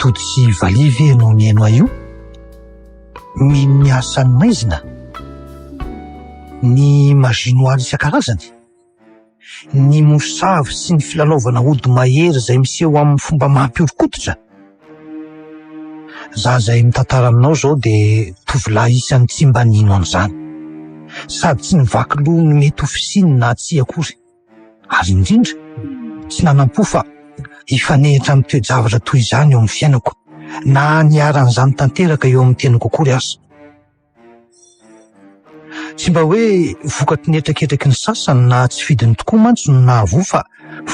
Tody sy Valiha ve ianao nihaino ahy io? Mino ny asan'ny maizina? Ny magie noire isan-karazany? Ny mosavy sy ny filalaovana ody mahery izay miseho amin'ny fomba mampihoron-koditra? Izaho izay mitantara aminao izao dia tovolahy isan'ny tsy mba nino an'izany. Sady tsy nivaky loha ny mety ho fisiany na tsia akory. ary indrindra tsy nanam-po fa hifanehitra amin'ny toe-javatra toy izany eo amin'ny fiainako, na niharan'izany tanteraka eo amin'ny teniko akory aza. Tsy mba hoe vokatry ny hetraketraky ny sasany na tsy fidiny tokoa mantsy no nahavoa fa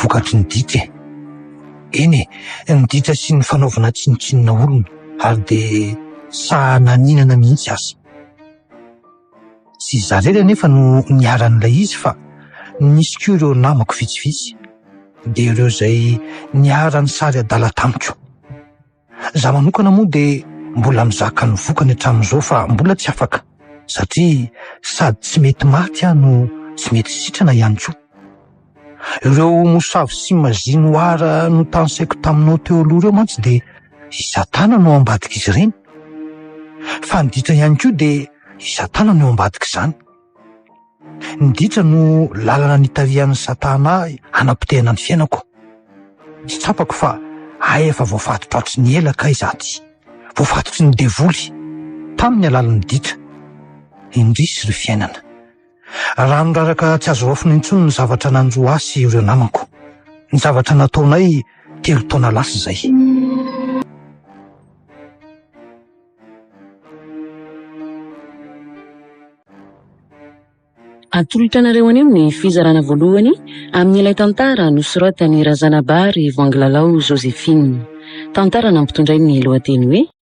vokatry ny ditra e. Eny e, ny ditra sy ny fanaovana tsinontsinona olona ary dia sahy naninana mihitsy aza. Tsy izaho irery anefa no niharan'ilay izy fa nisy koa ireo namako vitsivitsy, dia ireo izay niharan'ny sary adala tamiko. Izaho manokana moa dia mbola mizaka ny vokany hatramin'izao fa mbola tsy afaka, satria sady tsy mety maty aho no tsy mety sitrana ihany koa. Ireo mosavy sy mazinoara notansaiko taminao teo aloha ireo mantsy dia i Satana no ao ambadik'izy ireny. Fa ny ditra ihany koa dia i Satana no ao ambadik'izany. Ny ditra no lalana nitarihan'i Satana ahy hanapotehana ny fiainako. Tsy tsapako fa hay efa voafatotra hatry ny ela kay izaho ty. Voafatotry ny devoly tamin'ny alalan'ny ditra. Indrisy ry fiainana. Raha niraraka tsy azo raofina intsony ny zavatra nanjo ahy sy ireo namako. Ny zavatra nataonay telo taona lasa izay. Atolotra anareo anio ny fizarana voalohany amin'ilay tantara nosoratan'i Razanabary Vanglalao Joséphine. Tantara nampitondrainy ny lohateny hoe.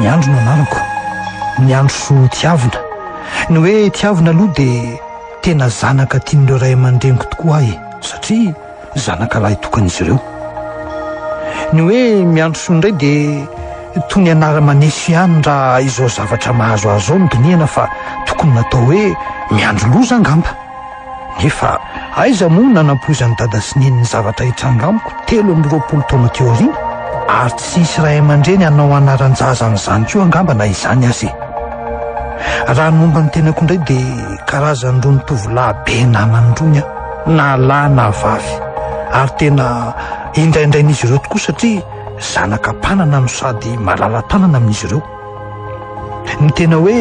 Ny andro no anarako ny andro soa tiavina ny hoe tiavina aloha dia tena zanaka tian'ireo ray aman-dreniko tokoa ahy satria zanaka lahy tokan'izy ireo ny hoe miandro soa indray dia toy ny anara-maneso ihany raha izao zavatra mahazo azy izao ny dinihana fa tokony natao hoe miandro loza angamba Efa aiza moa no nanampoizan'i dada sy neny ny zavatra hitranga amiko telo amby roapolo taona teo aoriana? Ary tsy hisy ray aman-dreny hanao anaran-jaza an'izany koa angamba na izany aza e! Raha ny momba ny tenako indray dia karazan'irony tovolahy be namany irony aho, na lahy na vavy, ary tena indraindrain'izy ireo tokoa satria zanaka mpanana no sady malala-tanana amin'izy ireo. Ny tena hoe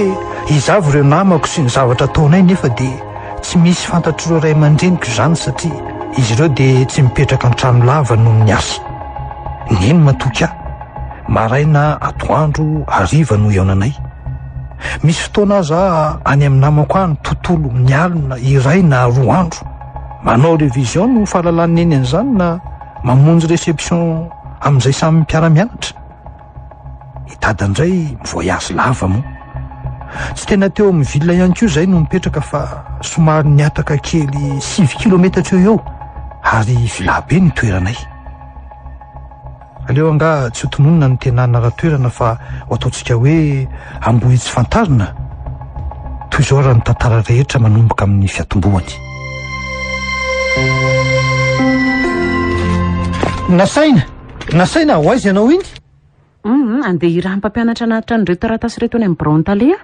izaho vao ireo namako sy ny zavatra ataonay nefa dia tsy misy fantatr'ireo ray aman-dreniko izany satria izy ireo dia tsy mipetraka an-trano lava noho ny asa. Neny matoky ahy. Maraina atoandro hariva no ihaonanay. Misy fotoana aza any amin'ny namako any tontolo ny alina iray na roa andro. Manao révision no fahalalan'ny neny an'izany na mamonjy réception amin'izay samy mpiara-mianatra. I dada indray mi-voyage lava moa. Tsy tena teo amin'ny ville ihany koa izay no mipetraka fa somary nihataka kely sivy kilometatra eo eo ary villa be ny toeranay. Aleo angaha tsy ho tononina ny tena anara-toerana fa ho ataontsika hoe Ambohitsifantarina toy izao raha ny tantara rehetra manomboka amin'ny fiatombohany. Nasaina! Nasaina ho aiza ianao iny? Humm, andeha hirahan'ny mpampianatra hanatitra an'ireo taratasy ireto any amin'ny biraon'ny tale aho.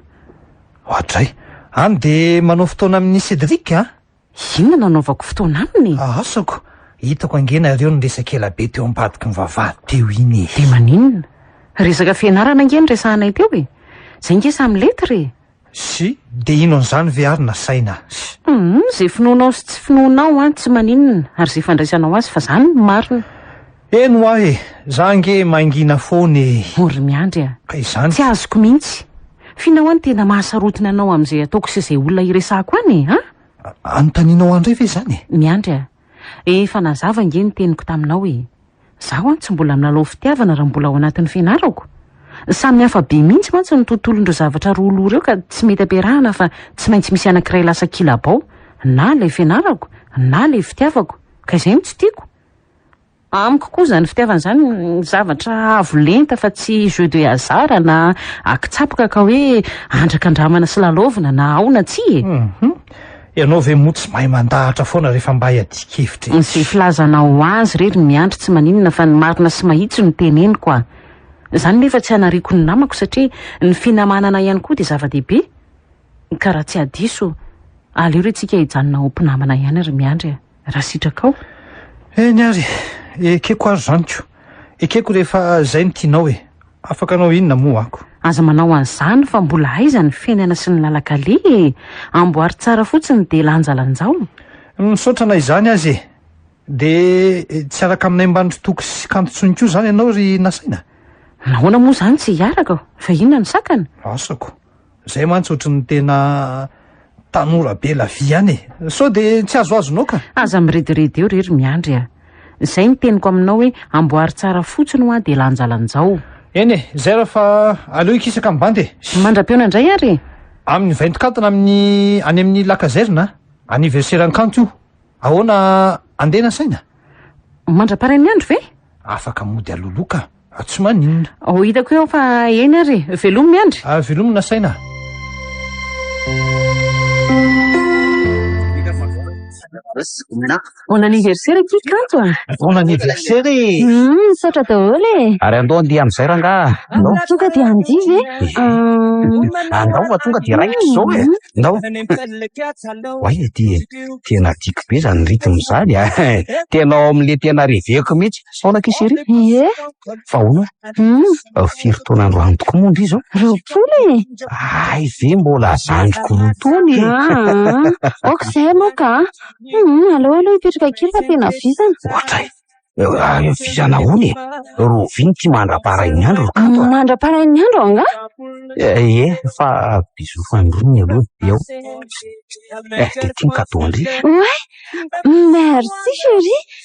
Oadray. Any dia manao fotoana amin'i Cédric an! Inona no anaovako fotoana aminy? Asako! Hitako ange nareo niresaka ela be teo ambadiky ny vavahady teo iny e! Dia maninona? Resaka fianarana ange no resahanay teo e! Izay ange samy lettre e! sy dia ino an'izany ve ary nasaina sy. Humm izay finoanao sy tsy finoanao an tsy maninona ary izay fandraisanao azy fa izany no marina. Eny hoa e! Za ange mangina foana e! Vory miandry a! Ka izany. Tsy azoko mihitsy. Finao an tena mahasarotiny anao amin'izay ataoko sy izay olona iresahako an e! An? Anontanianao ahy indray ve izany e? Miandry a! Efa nazava ange ny teniko taminao e! Zaho an tsy mbola milalao fitiavana raha mbola ao anatin'ny fianarako. Samy hafa be mihitsy mantsy ny tontolon'ireo zavatra roa loha ireo ka tsy mety ampiarahana fa tsy maintsy misy anankiray lasa kilabao, na ilay fianarako na ilay fitiavako, ka izay no tsy tiako. Amiko koa izany fitiavana izany zavatra avo lenta fa tsy jeu de hasard na akitsapaka ka hoe andrakandramana sy lalaovina na ao na tsia e! Hum! Ianao ve moa tsy mahay mandahatra foana rehefa mba hiadian-kevitra etsy? Izay filazanao azy re ry Miandry tsy maninona fa ny marina sy mahitsy no teneniko a! Izany nefa tsy hanariako ny namako satria ny finamanana ihany koa dia zava-dehibe ka raha tsy hadiso aleo re tsika hijanona ho mpinamana ihany ry Miandry a! raha sitrakao? Eny ary, ekeko ary izany ko. Ekeko rehefa izay no tianao e. Afaka anao inona moa ako? Aza manao an'izany fa mbola aiza ny fiainana sy ny lalan-kaleha e! Amboary tsara fotsiny dia lanjalanjao. Misaotra na izany aza e! Dia tsy hiaraka aminay mibandry toko sy kanto intsony koa izany ianao ry Nasaina? Nahoana moa izany tsy hiaraka? Fa inona no sakana? Asako. Zay mantsy ohatran'ny tena tanora be la vie any e. Sao de tsy azoazonao ka. Aza mirediredy eo re ry Miandry a. Zay ny teniko aminao hoe amboary tsara fotsiny hoa de lanjalanjao. Eny e, zay raha fa aleo hikisaka ny bandy e. Mandram-pihaona indray ary e. Amin'ny vainton-kantana amin'ny any amin'ny la caserne a. Anniversaire an'i Kanto io. Ahoana andeha nasaina? Mandra-parain'ny andro ve? Afaka mody aloloha ka. Ah, tsy maninona. Ho oh, hitako eo fa eny ary e. Velomy miandry. Ah, velomy nasaina. Bon anniversaire aty kanto a. Ah. Bon anniversaire e. Hmm, misaotra daholo e. Ary andao andeha amin'izay rangaha. Andao. Tonga dia andeha ve? Eh. Ah. Andao fa tonga dia raikitra izao e. Andao. Hmm. Oay e, tena tiako be izany rythme izany a. Ah. Tena ao amin'ilay tena reveko mihitsy. Sao na k'isy ery? Ie. Fa ahoana? Hum. Firy taona androany tokoa moa ndry izao? Roapolo e! Hay ve mbola zandriko roa taona e! Aa, ok zay aloha ka a! Hum, aleo aloha hipetraka kely fa tena vizana. Ohatray! Vizana ahoana e? Roviny ity mandra-parain'ny andro ry Kanto a! Mandra-parain'ny andro angaha? Ie, fa bisous fandroany aloha dia ao. Eh, dia ity ny cadeau ndry. Oay! Merci chérie!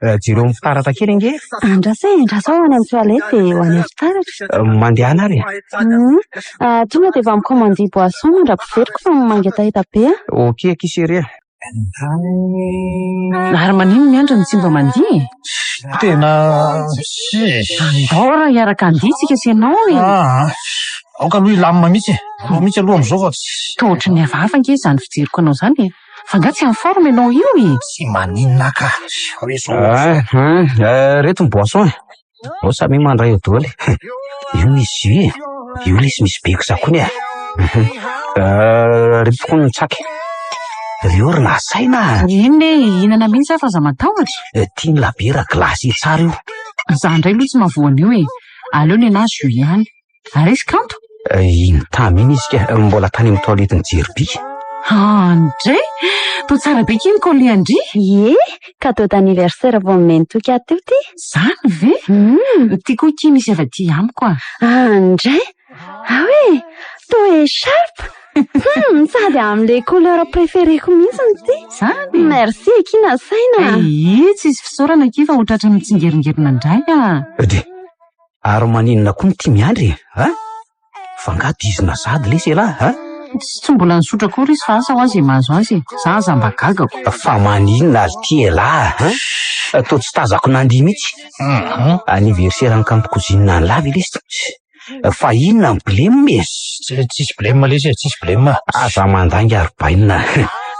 Jereo ny fitaratra kely ange e! Andraso e, andraso aho any amin'ny toilette dia ho any amin'ny fitaratra. Mandehana ary e! Hum. Tonga dia efa mi-commander boisson mandra-piveriko fa mangetaheta be aho. Ok akia chérie a! Ary manino ny andry no tsy mba mandihy e? Tena tsisy. Andao raha hiaraka handihy tsika sy ianao e! Aa! Aoka aloha hilamina mihitsy e! Aleo mihitsy aloha amin'izao fa tsy. Toa ohatry ny hafahafa ange izany fijeriko anao izany e! Fa nga tsy en forme enao io e! Tsy maninona ka! Ahh reto ny boisson e! Ao samia mandray eo doly e! Io misy jus e! Io lesy misy be kizakony e! Ahh reto koa ny tsaky! Reo ry nasaina a! Inona e! Hihinana mihitsy aho fa aza matahotra! Tian'ny labiera glace tsara io! Za ndray lo tsy mahavoa an'io e! Aleo nenaha jus ihany! Ary izy kanto? Iny tamy iny izy ka, mbola tany amin'ny toiletin'i Jeriby. Andre! Toa tsara be kin Colly an-dry! Ie, cadeau d'anniversaire vao nomeny Toky ahy teo ty. Zany ve? Hum. Ty koa kin misy avy aty amiko a. Andre! Ao e! Toa echarpe! Hum, sady amin'ilay couleur préféré-ko mihitsy ny ty. Zany e! Merci akia nasaina a. Ee, tsisy fisaorana akia fa ho tratran'ny tsingeringerina indray a. Dia Ary maninona koa no tia miandry e? Ha? Fa nga dizina sady lesy elah ha? Tsy mbola nisotra akory izy fa asa hoa ze mahazo azy e. Za aza mba gagako. Fa maninona ary ty elah ha? Toa tsy tazako nandihy mitsy. Anniversaire ny kanto cousine any la ve lesy? Fa inona ny blem e? Tsisy blem lesy e, tsisy blem. Aza mandainga ry bainina.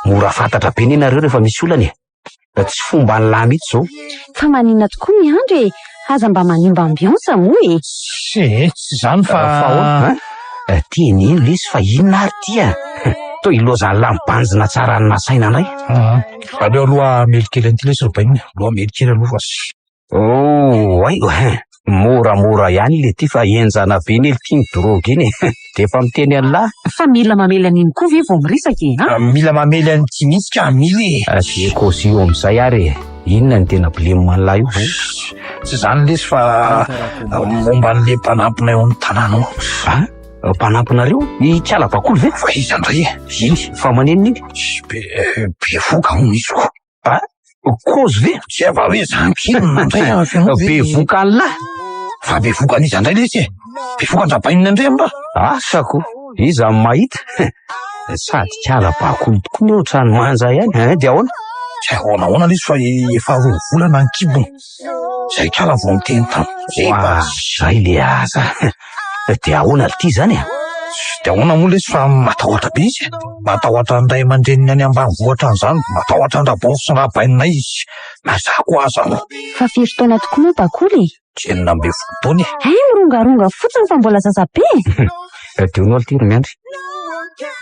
Mora fantatra be ne nareo refa misy olana e. Tsy fomba an'i lahy mihitsy zao. Fa maninona tokoa miandry e! Aza mba manimba ambiance moa e! Tsia e, tsy izany fa. Fa ahoana? An! Tiany eny lesy fa inona ary ity an! Toa ilozan'ny lahy mibanjina tsara ny nasaina indray. Aleo aloha hamely kely an'ity lesy ry bainina. Aleo hamely kely aloha fa. Oh ay hein, moramora ihany le ty fa enjana be nely ty ny drogue iny e! de efa miteny an'lah. Fa mila mamely an'iny koa ve vao miresaka e a! Mila mamely an'ity mihitsy ka mila e! Asie cosy io amin'izay ary e! Inona no tena blem an'lah io e! Tsy izany lesy fa momba an'le mpanampinay ao amin'ny tanàna ao. Ah! Mpanampinareo? Ikala bakoly ve? Fa iza ndray e! Iny fa manenina iny? Be voka hono izy ko! Kozy ve? Tsy eva hoe zany kely no nandray an feno hoe. Bevokan'lah! Fa bevokan'iza indray letsy e? Bevokan-dRabainina indray amin'ra? Asa ko! Iza no mahita? Sady kala bakoly tokoa ny ohatran'ny manja ihany, hein? Dia ahoana? Tsy ahoana ahoana letsy fa efa roa volana ny kibony. Zay kala vao miteny tamiko hoa zay le aza de ahoana le ty zany e? De ahoana moa lesy fa matahotra be izy e? Matahotra ny ray aman-dreniny any ambanivohitra any zany, matahotra an Rabovy sy Rabainina izy, na za koa aza no. Fa firy taona tokoa moa Bakoly e? Enina ambin'ny folo taona e! Hay mirongaronga fotsiny fa mbola zaza be e! Tadidio aloha ty ry Miandry,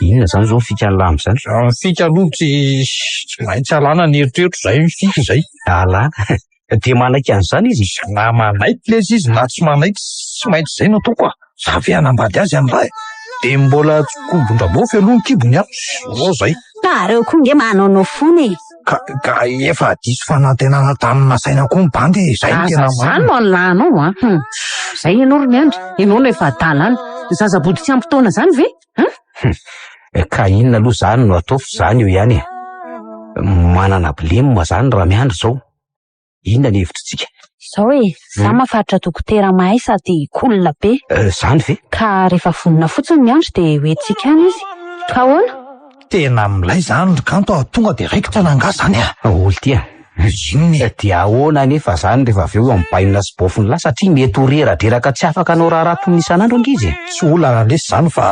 inona zany zao ny fika alamo zany? Ny fika aloha tsy maintsy alana ny eritreritro zay ny fika zay. lalàna e, dia manaiky an'izany izy e. Na manaiky lez izy na tsy manaiky, tsy maintsy izay no ataoko ah. Za ve hanambady azy any raha e. Dia mbola tsikobon-dramofy aloha ny kibony an, zao izay. Nareo koa nge manaonao fona e. Ka, ka efa diso fanantenana tamin'ny nasaina koa ny bandy e, izay no tena marina. Aza izany no anlanao an. Hum. Izay ianao ry Miandry, ianao no efa adala any. Ny zazabody tsy ampy taona izany ve? Hum! Ka inona aloha zany no ataovy zany eo ihany e? Manana blem zany raha miandry zao? Inona ny hevitritsika? Zao e, za Hum. mafaritra dokotera mahay sady cool be. Eh, zany ve? Ka rehefa vonona fotsiny miandry dia ho entintsika any izy. Ka ahoana? Tena milay zany ry Kanto a, tonga de raikitra na angaha zany a! Daholo ty a! Inona e? Dia ahoana anefa izany rehefa avy eo amin'ny bainina sy baofin'lah satria mety ho reradreraka tsy afaka hanao raharaha toy ny isan'andro angizy e! Tsy olana lesy izany fa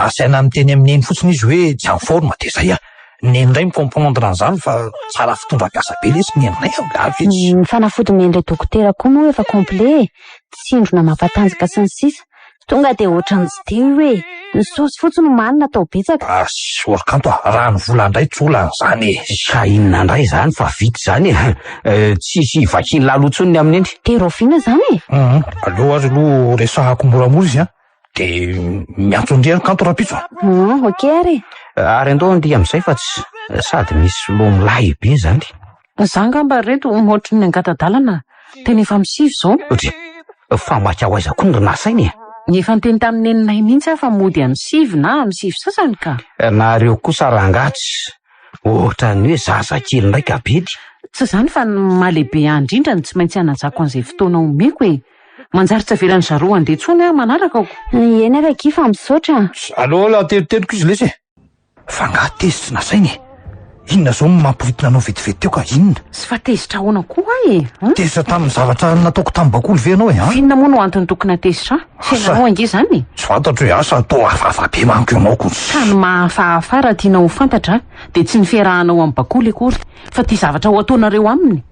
asaina miteny amin'ny neny fotsiny izy hoe tsy en forme dia izay a! Ny neny indray mi-comprendre an'izany fa tsara fitondram-piasa be lesy ny neny indray an! Ary ve tsy. Ny fanafody omen'ilay dokotera koa moa efa complet e! Tsindrona mampatanjaka sy ny sisa! Tonga dia ohatran'ny tsy teo io e! Ny source fotsiny omaly natao betsaka. Sorry kanto a, raha ny vola ndray tsy olana zany e! Sa inona ndray zany fa vita zany e! Tsisy ivakian'i lalo tsony ny amin'iny. Dia raoviana zany e? Hum, aleo ary aloha resahako moramora izy an! Dia miantso ndry an kanto rahampitso a! Hum, ok ary e! Ary andao ndry amizay fa tsy sady misy loha milahy be zany. Za angamba re to ohatry ny angata-dalana tena efa am sivy zao. Tsia, fa maika ho aiza koa no nasaina e? Efa niteny tamin'i neninay mihitsy aho fa mody am sivy na am sivy sasany ka. Nareo kosa rangahy tsy ohatran'ny hoe zaza kely ndray ka bedy. Tsy izany fa ny maha lehibe ahy indrindra no tsy maintsy hanajako an'izay fotoana omeko e! Manjary tsy avelan'i zareo handeha intsony aho manaraka aho. Eny ary akia fa misaotra a. Allo allo ateriteriko izy lesy e. Fa nga tezitra tsy nasaina e! Inona zao no mampiritona anao vetivety teo ka? Inona? Tsy fa tezitra ahoana koa ahy e? Tezitra tamin'ny zavatra nataoko tamin'ny bakoly ve ianao e? Ha? F'inona moa no antony tokony hatezitra ahy? Asa. Fiainanao ange izany e! Tsy fantatro e! Asa toa hafahafa be manko ianao ko. Ka ny maha hafahafa raha tianao ho fantatra dia tsy ny fiarahanao amin'ny bakoly akory fa ity zavatra ho ataonareo aminy.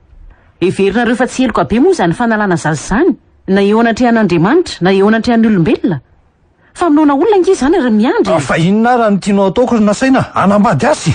Heverinareo fa tsy heloka be moa izany fanalana zaza izany na eo anatrehan'Andriamanitra na eo anatrehan'ny olombelona? Famonoana olona ange izany ry Miandry e! Fa inona ary no tianao ataoko ry Nasaina? Hanambady azy?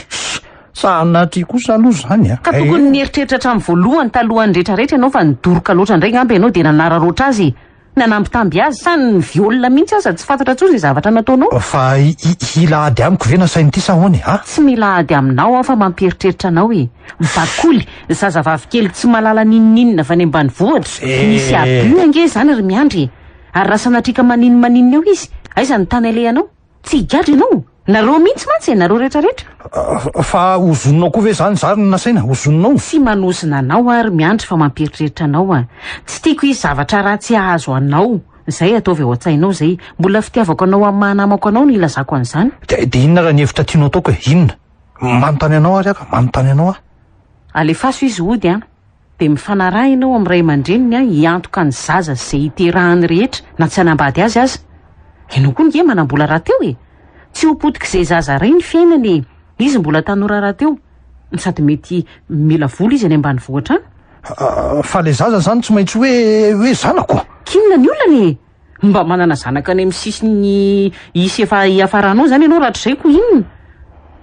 Sa anatri kosa aloha izany a? Ka tokony nieritreritra hatramin'ny voalohany talohan'ny retraretra ianao fa nidoroka loatra indray ngamba ianao dia nanararoatra azy e! Nanambitamby azy sa ni-viol mihitsy aza tsy fantatra intsony izay zavatra nataonao? Fa hi-hila ady amiko ve Nasaina ity sa ahoana e? A! Tsy mila ady aminao aho fa mampieritreritra anao e! Bakoly, zazavavy kely tsy mahalala n'inon'inona avy any ambanivohitra, nisy abus ange izany ry Miandry e! Ary raha sanatriaka maninn maninn eo izy, aiza ny tany alehanao? Tsy higadra ianao? Nareo mihitsy mantsy e, nareo rehetra rehetra. Fa ozoninao koa ve zany zary no nasaina? Ozoninao? Tsy manozona anao aho ry Miandry fa mampieritreritra anao aho. Tsy tiako hisy zavatra ratsy hahazo anao. Izay ataovy ao an-tsainao izay. Mbola fitiavako anao amin'ny maha namako anao no hilazako an'izany. Dia dia inona ary ny hevitra tianao ataoko e? Inona? Manontany anao ary aho ka, manontany anao aho. Alefaso izy hody an! dia mifanarahina ao amin'ny ray aman-dreniny hiantoka ny zaza sy izay hiterahany rehetra na tsy hanambady azy aza. Ianao koa ange manam-bola rahateo e! Tsy ho potik'izay zaza iray ny fiainany e! Izy mbola tanora rahateo, no sady mety mila vola izy any ambanivohitra any. Fa ilay zaza izany tsy maintsy hoe hoe zanako. K'inona ny olana e! Mba manana zanaka any amin'ny sisin'ny isa efa hiafaranao izany ianao rahatrizay koa inona?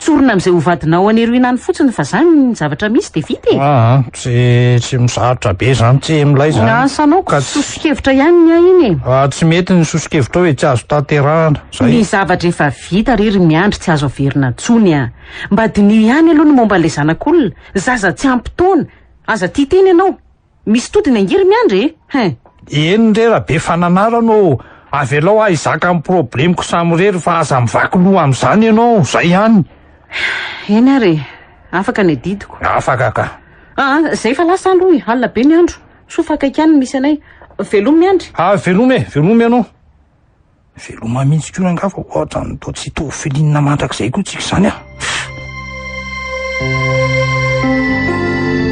Tsorina amin'izay ho vadinao any Eruina any fotsiny fa izany ny zavatra misy dia vita e! Aa, tsy tsy misarotra be izany tsy milay izany. Asa anao ka tsy. Soso-kevitra ihany ny ahy iny e! Aa, tsy mety ny soso-kevitrao e, tsy azo tanterahana. Izay. Ny zavatra efa vita re ry Miandry tsy azo averina intsony a! Mba diniho ihany aloha ny momba an'ilay zanak'olona, zaza tsy ampy taona, aza tia tena ianao. Misy todiny ange ry miandry e! Hein! Eny re Rabe Fananarana ô, avelao aho hizaka ny problemiko samirery fa aza mivaky loha amin'izany ianao, zay ihany. Eny ary e, afaka ny adidiko. Afaka ka. Aa, zay fa lasa aloha e, alina be ny andro. Soa fa akaiky ihany ny misy anay. Velomy miandry. Aa, velomy e, velomy ianao. Veloma mihitsy koa rangahy fa ohatran'ny toa tsy hitovy filinina mandrakizay koa tsika izany an!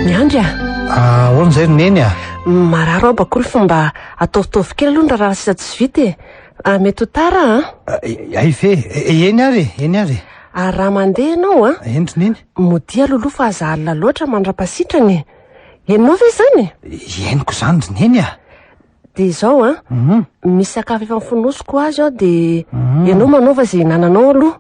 Miandry a! Ah, ahoana izay ry Neny a? Marary aho bakoly fa mba ataovitaovy kely aloha ny raharaha sisa tsy vita e! Ah, mety ho tara an! Hay ve! Eny ary e! Eny ary e! Ary raha mandeha ianao an, Eny ry Neny? modia aloha aloha fa aza alina loatra mandra-pasitrana e! Henonao ve izany? Henoko izany ry Neny a! Dia izao an, misy sakafo efa nofonosiko azy aho dia ianao manaova izay hinananao aloha.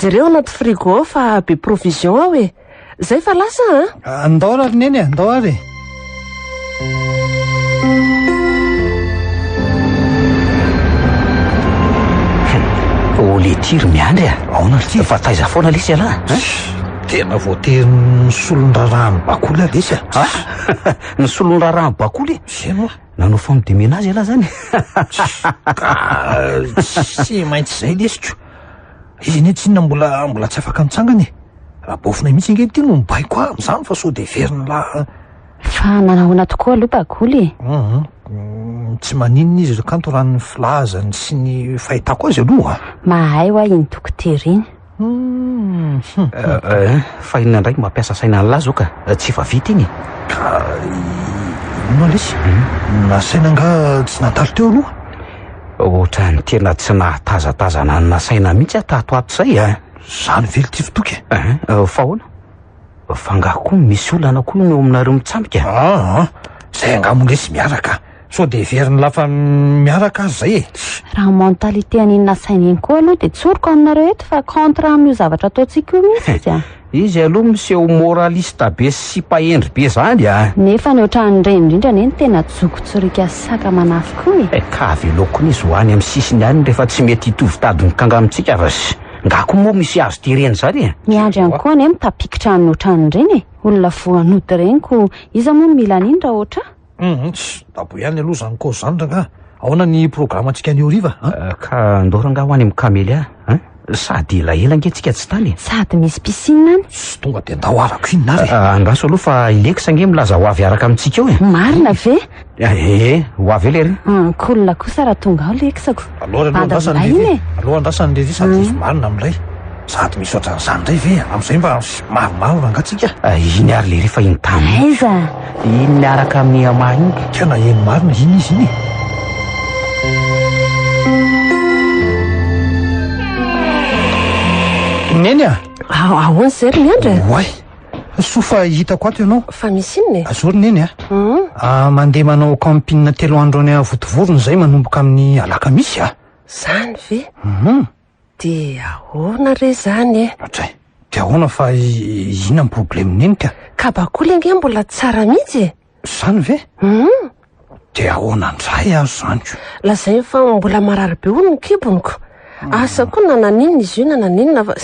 Jereo anaty frigo ao fa be provision aho e. Izay fa lasa aho an! Ah, ndao ary Neny e, ndao ary e. Ô le tia ry Miandry a! Aona ry tia? Fa taiza foana lesy ialahy a? Tena voatery ny solondraraham-bakoly aho lesy a! Ah! Ny solondraraham-bakoly e! Zay moa nanao famidemena azy ialahy zany e! Tsy maintsy zay lesiko. Izy anie tsinona mbola mbola tsy afaka mitsangana e! Rabaofonay mihitsy ange ity no mibaiko ahy amin'izany fa sao dia heverin'ny la... Fa manahoana tokoa aloha Bagoly e? Hum, hum, tsy maninona izy ry kanto raha ny filazany sy ny fahitako azy aloha. Mahay ho'a iny dokotera iny. Fa inona indray no mampiasa saina an'lah zao ka? Tsy efa vita iny e? Inona lesy? Nasaina angaha tsy nandalo teo aloha? Ohatran'ny tena tsy nahatazatazana ny nasaina mihitsy aho tato ato izay a! Izany velon-tsy fitoky e! Fa ahoana? Fa angaha koa misy olana koa ny ao aminareo mitsambika? Aa, ah, zay angaha mondresy miaraka. Sao dia heverin'ny lafa miaraka aza zay e. Raha mentalité an'iny nasaina iny koa aloha dia tsoriko aminareo eto fa contre amin'io zavatra ataontsika io mihitsy izy a. Izy aloha miseho moraliste be sy sipa hendry be zany a. Nefa ny ohatran'ireny indrindra anie no tena joko tsoriaka saka manafy koa e. Eh, ka avelao koa ny izy ho any amin'ny sisiny any rehefa tsy mety hitovy tady mikanga amintsika ras. Nga ko moa misy azo ty reny zany e? Miandry any koa anie mitapikitra any otrany reny e! Olona voan'ody reny ko iza moa no mila an'iny ra otra? Hum ts dabo ihany aloha zany ko zany rangah! Ahoana ny programme ntsika any horiva a? Ka ndao rangah ho any amin'ny Camellia a! Sady elaela nge tsika tsy tany e! Sady misy piscine any! Ts tonga de ndao havako inona ary e! Andraso aloha fa i Lex nge milaza ho avy hiaraka amintsika eo e! Marina ve? Ee, ho avy eo lery. Hum, cool kosa raha tonga ao leksako. Aleo aloha andrasana lery. E. Aleo andrasana lery sady hisy hmm. marina amin'ilay. Sady misy ohatran'izany indray ve? Amin'izay mba mavomavo rangatsika. Eh, iny ary lery fa iny tany. Aiza? Iny miaraka amin'ny ama iny. Tena eny marina iny izy iny. Neny ah. Ahoana zay ry miandra? Oay. Soa fa hitako ato ianao. Fa misy inona e? Azoro neny a! Ahh mandeha manao camping telo andro any Vontovorona izay manomboka amin'ny alakamisy a! Zany ve? Hum. Dia ahoana re zany e? Hatray. Dia ahoana fa inona ny problemin'i neny ka? Kabakoly ange mbola tsara mihitsy e! Zany ve? Hum! De ahoana ndray aho zany ko? Lazainy fa mbola marary be hono ny kibony ko. Asa koa na naninona izy io na naninona fa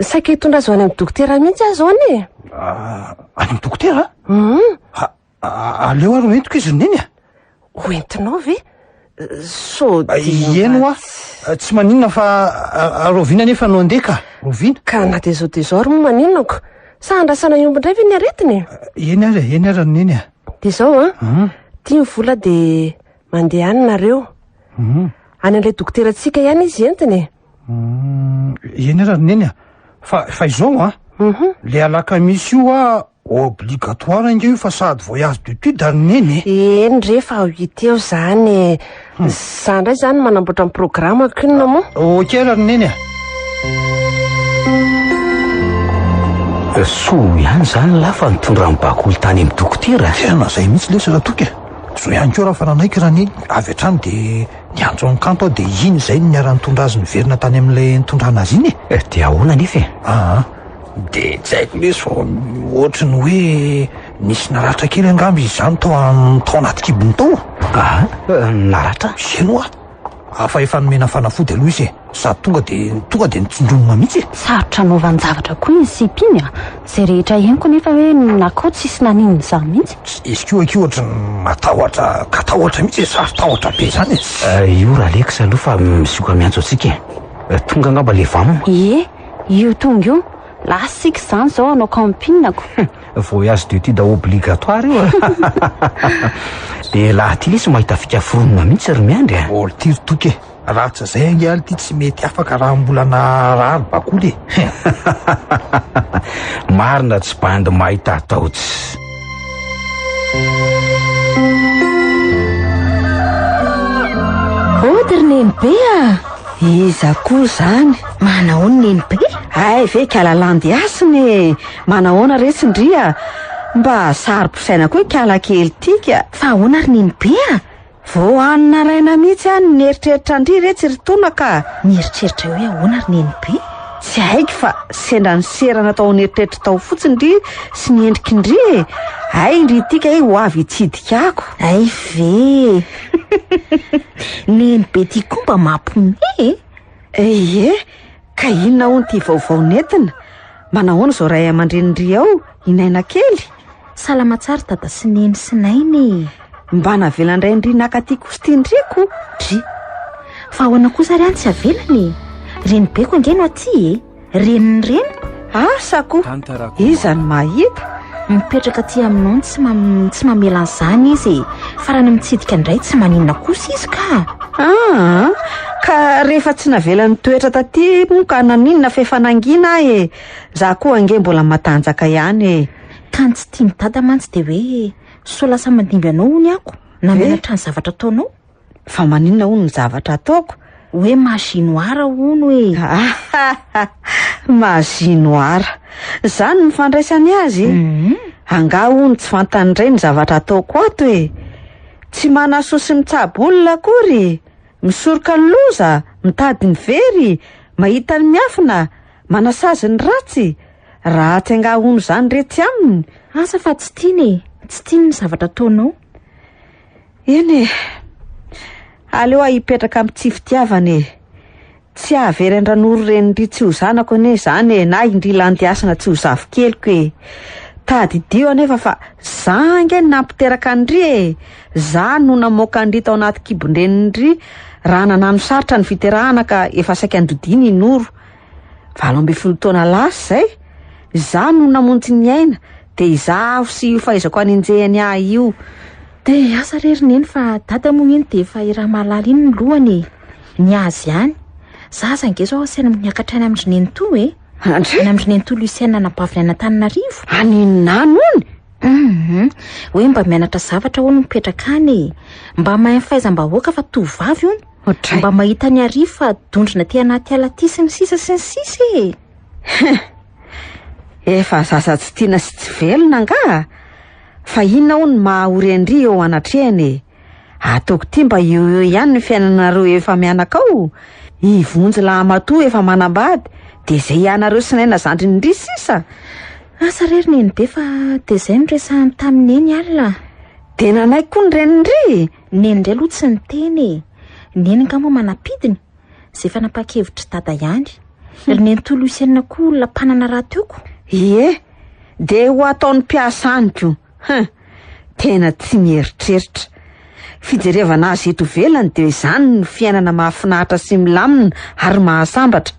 saika hitondra azy ho any amin'ny dokotera mihitsy aho zao anie. Ah, any amin'ny dokotera? Hum! Aleo ary ho entiko izy ry neny a! ho entinao ve? Sao dia ho Ieny hoa, ratsy. tsy maninona fa a- a- rahoviana anefa no handeha ka? Rahoviana? Ka na dia izao dia izao ary moa maninona ko? Sa andrasana hiompy indray ve ny aretiny? Eny ary, eny ary ry Neny a. Dia izao an, Hum, ity ny vola dia mandeha any nareo. hum. Any an'ilay dokoterantsika ihany izy entiny e. Uhm, eny ary ry neny a, fa fa izao a, Mhm. le alakamisy io a obligatoire ange io fa sady voyage d'étude ary neny e. Eny re fa ho hita eo zany e. Za indray zany manamboatra ny programako inona moa? Ok ary ry neny a. Soa ihany zany lahy fa nitondra ny bakoly tany amin'ny dokotera. Tena zay mihitsy lesy Ratoky a. Zao ihany koa raha fa nanaiky raha neny avy hatrany dia Niantso an'i Kanto aho dia iny izay no niara-nitondra azy niverina tany amin'ilay nitondrana azy iny e! Eh, dia ahoana anefa e? Aa, dia tsy haiko lesy fa ohatry ny hoe nisy naratra kely angamba izy izany tao, tao anaty kibony tao. Aa, naratra? Eny hoa! Hafa efa nomena fanafody aloha izy e! Sady tonga dia tonga dia nitsindronona mihitsy e! Sarotra anaovan-javatra koa iny sipa iny a! Izay rehetra henoko nefa hoe nakao tsisy naninona izany mihitsy. Izy koa akia ohatry ny matahotra ka tahotra mihitsy e! Sary tahotra be izany e! Io Ralex aloha fa mizoka miantso antsika e! Tonga angamba ilay vam. Ie, io tonga io! Lasa isika izany izao hanao camping-ko! Voyage d'études obligatoire io a! Dia laha aty lesy mahita fika foronina mihitsy ry Miandry a! Olo tiry toky e! Ratsy zay angaha ity tsy mety afaka raha mbola naharary bakoly e. Marina tsy bandy mahita ataotsy. Ody ry nenibe a! Iza koa zany? Manao ny nenibe? Ay ve kala landy hasina e! Manahoana re tsindria? Mba saro-pisaina koa i kala kely ity ka! Fa ahoana ry nenibe a? Voahan'ny naraina mihitsy aho ny nieritreritra an-dry re tsy ry tona ka. Mieritreritra hoe ahoana ry Nenibe? Tsy haiko fa sendra niserana tao an'eritreritr'i Tao fotsiny ry sy ny endriky ny ry e! Hay indry ity kay ho avy hitsidika ako. Hay ve e! Nenibe ity koa mba mampiomehy e! Ie! Ka inona hono ity vaovao nentina? Manahoana izao ray aman-drenin-dry ao i Naina kely? Salama tsara dada sy neny sy naina e! Mba navelan-drain-dry naka aty Kostin-driko, dry. Fa ahoana kosa ary any tsy avelany e? Renibeko ange no aty e! Renin'ny reniko. Asa koa! Iza no mahita? Mipetraka aty aminao tsy mam- tsy mamela an'izany izy e. Farany mitsidika indray tsy maninona kosa izy ka. Ah, ka rehefa tsy navela nitoetra taty moa ka naninona f'efa nangina ahy e. Za koa ange mbola matanjaka ihany e. Ka ny tsy tian'i dada mantsy dia hoe sao lasa mandimby anao hono ako na mianatra ny zavatra ataonao. Fa maninona hono ny zavatra ataoko? Hoe mahasinoara hono e! Mahasinoara! Izany no fandraisany azy e! Mhm. Angaha hono tsy fantany indray ny zavatra ataoko ato e! Tsy manasoa sy mitsabo olona akory! Misoroka ny loza, mitady ny very, mahita ny miafina, manasazy ny ratsy! Ratsy angaha hono izany re tsy aminy? Asa fa tsy tiany e! Tsy tiany ny zavatra ataonao! Eny e! Aleo aho hipetraka amin'ny tsy fitiavana e! Tsy hahavery an-dRanoro Renindry tsy ho zanako anie izany e, na indry Landiasina tsy ho zafikeliko e! Tadidio anefa fa za ange no nampiteraka an-dry e! Za no namoaka an-dry tao anaty kibon-drenindry raha nananosaritra ny fiterahana ka efa saika nodidiny i Noro. Valo ambin'ny folo taona lasa izay, izaho no namonjy ny aina, dia izaho avy sy io fahaizako anenjehany ahy io. Dia asa re ry neny fa dada moa iny dia efa i Ramalala iny ny lohany e. Ny azy ihany. Za aza nge zao asaina miakatra any amin-dry nenitoa e. Andry? Any amin-dry nenitoa Lucienne anabaviny any Antananarivo. Any Nano any? Mhm. Hoe mba mianatra zavatra hono mipetraka any e. Mba mahay ny fahaizam-bahoaka fa tovovavy hono. Ohatray. Mba mahita ny Arivo fa dondrona aty anaty ala aty sy ny sisa sy ny sisa e! Hum. Efa zaza tsy tiana sy tsy velona angaha? Fa inona hono maha ho rendri eo anatrehany e? Ataoko ity mba eo eo ihany ny fiainanareo efa mianaka ao. I Vonjy lahamatoa efa manambady dia izay ianareo sy Naina zandriny ndry sisa. Asa re ry Nenibe fa dia izay no resahany tamin'i Neny alina. Dia nanaiky koa ny reniny ndry! Neny indray aloha tsy niteny e! Neny nga moa manam-pidiny? Zay fanapakevitry dada ihany. Ry neny toa Lucienne koa olona mpanana raha teo ko! Ie, de ho ataon'ny mpiasa any ko! Hein! Tena tsy mieritreritra! Fijerevana azy eto ivelany dia izany no fiainana mahafinaritra sy milamina ary mahasambatra!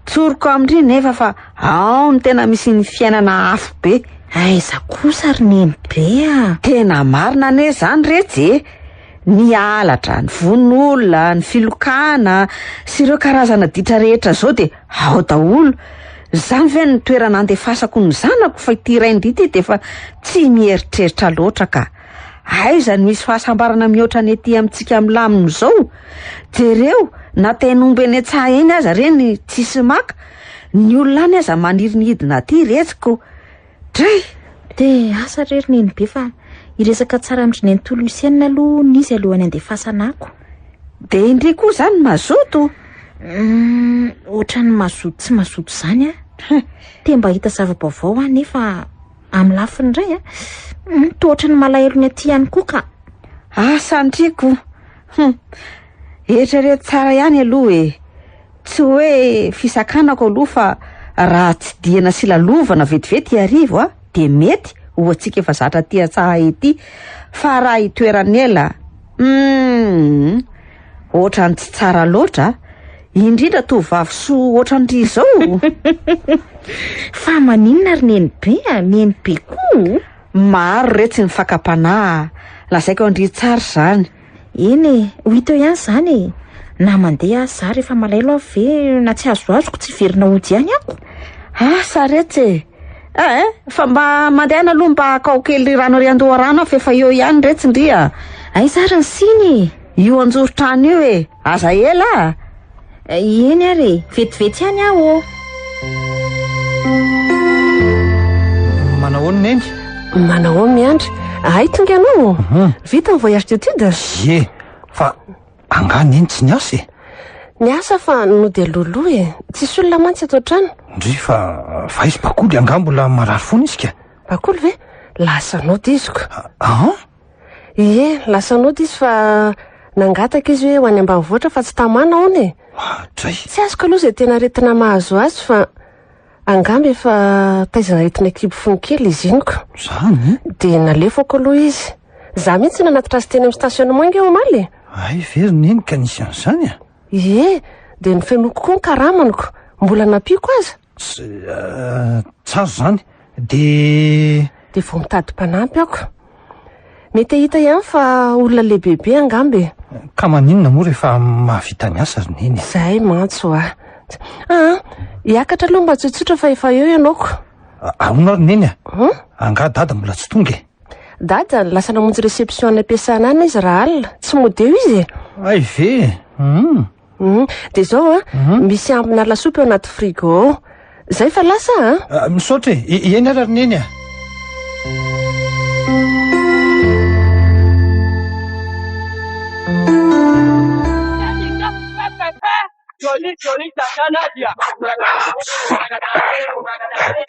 Tsoriko amindry nefa fa Ao ny tena misy ny fiainana afobe. Aiza kosa ry nenibe a! Tena marina anie izany retsy e! Ny halatra, ny vono olona, ny filokana sy ireo karazana ditra rehetra izao dia ao daholo. Izany ve no toerana andefasako ny zanako fa ity rainy ity dia efa tsy mieritreritra loatra ka. Aiza no hisy fahasambarana mihoatra ny ety amintsika milamina izao? Jereo na teny omby eny an-tsaha eny aza ireny tsisy maka. Ny olona any aza maniry ny hidina aty retsiko. Dray! De asa re ry nenibe fa hiresaka tsara amin-dry nenitoa Lucienne aloha n'izy alohan'ny andefasana ako. De indry koa zany mazoto? Hum, ohatran'ny mazoto tsy mazoto zany an! Te mba hahita zava-baovao aho nefa amin'ny lafiny iray an, hum, toa ohatran'ny malahelo ny aty ihany koa ka! Asa ndry ko! Hum! Eritrereto tsara ihany aloha e! Tsy hoe fisakanako aloha fa raha tsidihana sy lalovana vetivety iarivo a, dia mety ho antsika efa zatra aty an-tsaha ety, fa raha itoeran'ela a! Humm! Ohatran'ny tsy tsara loatra a! Indrindra tovovavy soa ohatran'ry izao! Fa maninona ry nenibe a! Nenibe koa o! Maro re tsy ny fakam-panahy a! Lazaiko an-dry Tsara izany. Eny e, ho hita eo ihany izany e! Na mandeha aza za rehefa malaelo aho ve na tsy azoazoko tsy hiverina hody ihany aho? Asa retsy e! Eh eh, fa mba mandehana aloha mba haka ao kely rano ery an-doharano aho fa efa eo ihany retsy ndry a! Aiza ary ny siny e? Io an-joron-trano io e! Aza ela a! Eny ary e! Vetivety ihany aho ô! Manahoana Neny? Manahoana Miandry? Hay tonga ianao? Vita ny voyage d'étude? Ie, fa angaha Neny tsy niasa e? Niasa fa nody loloha e! Tsisy olona mantsy ato an-trano. Ndry fa fa izy Bakoly angaha mbola marary fona izy ka? Bakoly ve? Lasa nody izy ko! An? Ie, lasa nody izy fa nangataka izy hoe ho any ambanivohitra fa tsy tamana hono e. Mahadray. Tsy azoko aloha izay tena aretina mahazo azy fa angamba efa taizan'aretina kibo fony kely izy iny ko. Zany? Dia nalefako aloha izy. Za mihitsy nanatitra azy teny amin'ny stationnement ange omaly e. Hay very neny ka nisy an'izany a! Ie, dia nofenoiko koa ny karamaniko. Mbola nampiako aza. Tsara izany. Dia... Dia vao mitady mpanampy aho. Mety hahita ihany fa olona lehibebe angamba e. Ka maninona moa rehefa mahavita ny asa ry neny? Izay mantsy hoa. Ah, hiakatra aloha mba tsotsotra fa efa eo ianao ko. Ahoana ary neny a? Hmm? Angaha dada mbola tsy tonga e? Dada lasa namonjy réception any am-piasana any izy raha alina. Tsy mody eo izy e. Ay ve? Hmm. Hum, dia izao an, Hum. misy ambina lasopy ao anaty frigo ao. Izay fa lasa an. Ah, misaotra e. E- Eny ara ry neny a.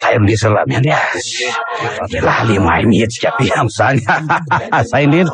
Tay miresaka raha miandry azy. Efa lehilahy le mahay mihetsika be amin'izany. Zay indrindra.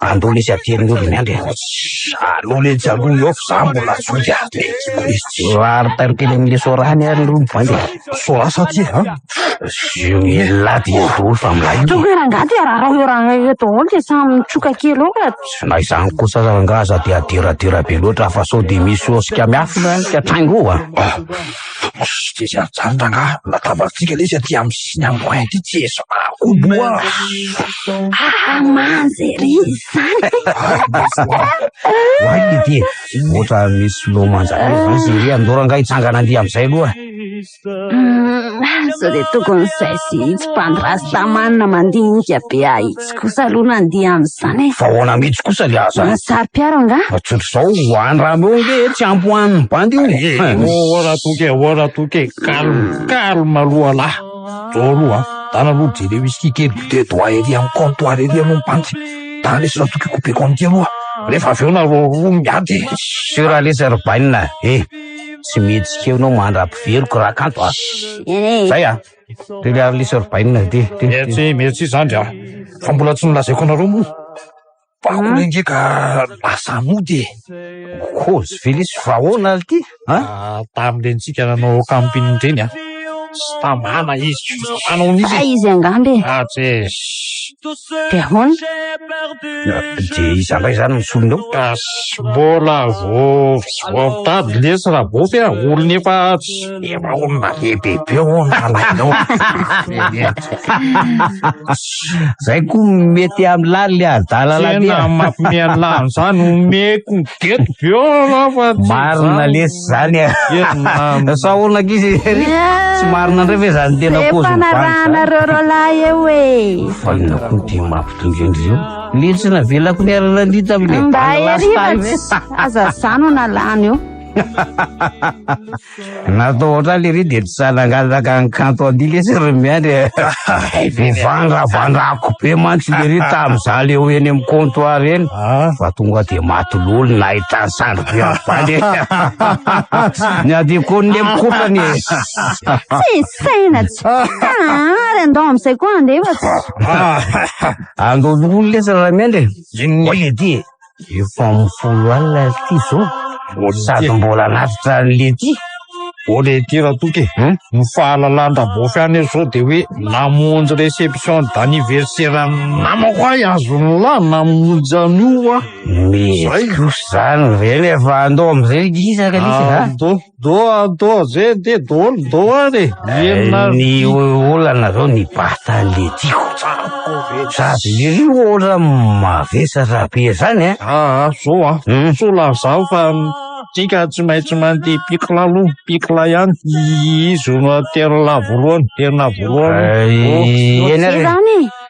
Andao lesy aty amin'ny ody miandry e. Allo letsy aloha eo fa za mbola zoky a. Vary tarikely amin'ny resorany ary aloha mivandy e. Soasa aty e. Zio elah dia daholo fa milay. Tonga rangahy dia rarao eo rangahy eo daholo dia samy mitroka kely eo ka. Na izany kosa aza rangahy aza dia adiradira be loatra fa sao dia misy hosikamiafina ka traingo a. Mijery an'izany rangahy, latabatsika ilay izy aty amin'ny sisiny amboay aty, tsy ezo akobo oa. Aa manja ery izany. Oay Lety e, ohatra misy filao manja be izany izy ery, andao rangahy hitsangana andia amin'izay aloha. Hum, sao dia tokony izay sy itsy mpandry rastaman mandinika be ahy itsy. mihitsy kosa aloha nandeha amin'izany e! Fa ahoana mihitsy kosa le aza? Mahatsary mpiaro angaha? Fa tsotra izao, ho any raha meo nge tsy ampy ho an'ny bandy io e! Ohh ra toky e! Ohh ra toky e! Calme, calme aloha lah! Zao aloha an! Dana aloha jereo whisky kely goûter doigt ery amin'ny comptoir ery aloha ny bandy! Dana lesy ra toky coupe compte aloha! Rehefa avy eo nareo roa miady e! Sur a lesy ry bainina e! Tsy mihetsika eo ianao mandra-piveriko raha kanto a! Zay a! Dia le Harley sur Bainina ity. Merci, merci zandry a. Fa mbola tsy nolazaiko anareo moa. Fa hmm? olona nge ka lasa mody e. Kozy Felice, fa ahoana ity? Ah, tamin'ireny tsika nanao camping ireny a. Sy tamana izy, manao an'izy. Fa izy angamba e. Ah, tse. Te ahoana? Dia iza ndray izany no solony eo? Ka tsy mbola voampitady lesy Raboty a! Olona efa efa olona lehibe be hono alainao. Izay koa mety amin'ny laliny adalalabe a! Tena mampime an'ilany izany omeko ny gety be aloha fa tsy izany. Marina lesy. Zany e. Sa olona ankizy ery. Tsy marina ndray ve zany tena pause. Efa narahana reo rolahy eo e. Valina koa dia mampitondra indreo. Lely tsy navelako ny arana ny tamin'ilay. Mba ery aza zano nalany eo. Natao ohatrany lery dia tsy sahy nangataka ny kanto an'ity lesy ry miandry. Vivandra vandrako be mantsy lery tamin'izaho le ho eny amin'ny comptoir eny. Fa tonga dia maty lolo nahitany Ravale. Ny adikony le mikopany e. Tsy saina tsy tana ary andao amin'izay koa andeha fa tsy. Andao loholona lesy Ramiandry e. Inona io lety e? Efa amin'ny folo alina ity zao. Sady mbola lavitra an'i lety. O lety ratoky e. Hmm? Ny fahalalan-dRabofy any izao dia hoe namonjy réception d'anniversaire namako ahy azon'lah namonjy an'io aho. Mety kosa izany ve nefa andao amin'izay ry Gisa ka nisy a? Andao, andao, andao amin'izay anie, andao, andao ary e. Mihenona Eh, Ny o- olana zao ny batale tiako. Sady iry ohatra mavesatra be zany eh. Ah, ah, zao ah. Hmm. Soa lazaho fa tika tsy maintsy mandeha pikla aloha, pikla ihany. Izy no terina voalohany, terina voalohany. Eh, Oh, eny Zay ary. zany e.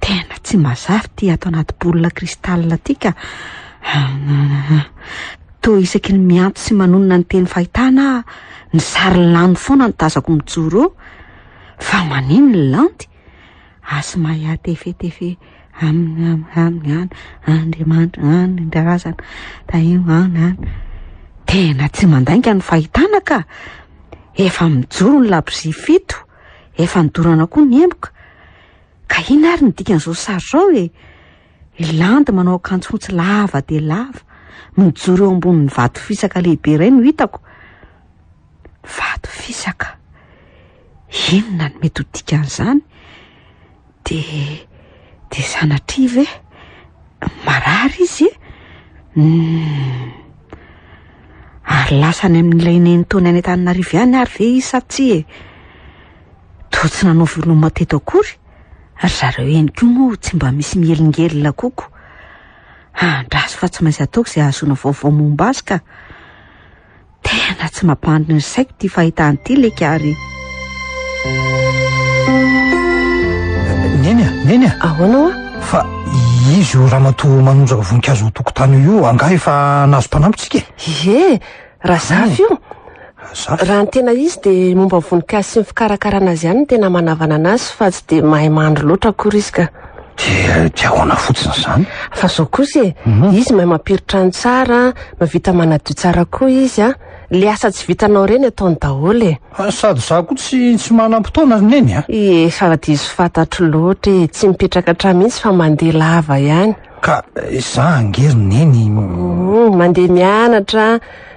Tena tsy mazava ity ato anaty boule cristal ity ka! Toa isaky ny miantso sy manonona ny teny fahitana aho, ny sary lany foana no tazako mijoro eo. Fa manino ny landy? Asmaya tefetefe aminy aminy aminy any Andriamanitra any ny razana tahio any any tena tsy mandainga ny fahitana ka efa mijoro ny labozia fito Efa nidorana koa ny emboka. Ka inona ary ny dikan'izao sary izao e? I Landy manao akanjo fotsy lava dia lava, mijoro eo ambonin'ny vato fisaka lehibe iray no hitako. Vato fisaka. Inona no mety ho dikan'izany? Dia, dia sanatria ve marary izy e? Humm. Ary lasa any amin'ilay nenitoany any Antananarivo ihany ary ve izy sa tsia e? Toa tsy nanao veloma teto akory, ry zareo eny koa moa tsy mba misy mielingelina koko. Andraso fa tsy maintsy ataoko izay ahazoana vaovao momba azy ka. Tena tsy mampandry ny saiko ity fahitana ity leka ary. Neny a, neny a. Ahoana oa? Fa izy io ramatoa manondraka voninkazo ho tokotany io angaha efa nahazo mpanampy tsika e? Ie, Razafy io. Razafy. Raha ny tena izy dia momba ny voninkazo sy ny fikarakarana azy ihany no tena manavanana azy fa tsy dia mahay mandry loatra akory izy ka. Dia dia ahoana fotsiny izany? Fa izao kosa e, mhm. izy mahay mampiritra ny tsara, mavita manadio tsara koa izy a. Le asa tsy vitanao ireny ataony daholo e. Ah, sady za koa tsy tsy manam-potoana neny a. Efa diso fantatro loatra e, tsy mipetraka hatrany mihitsy fa mandeha lava ihany. Ka eh, za angery neny. Mhm, mandeha mianatra,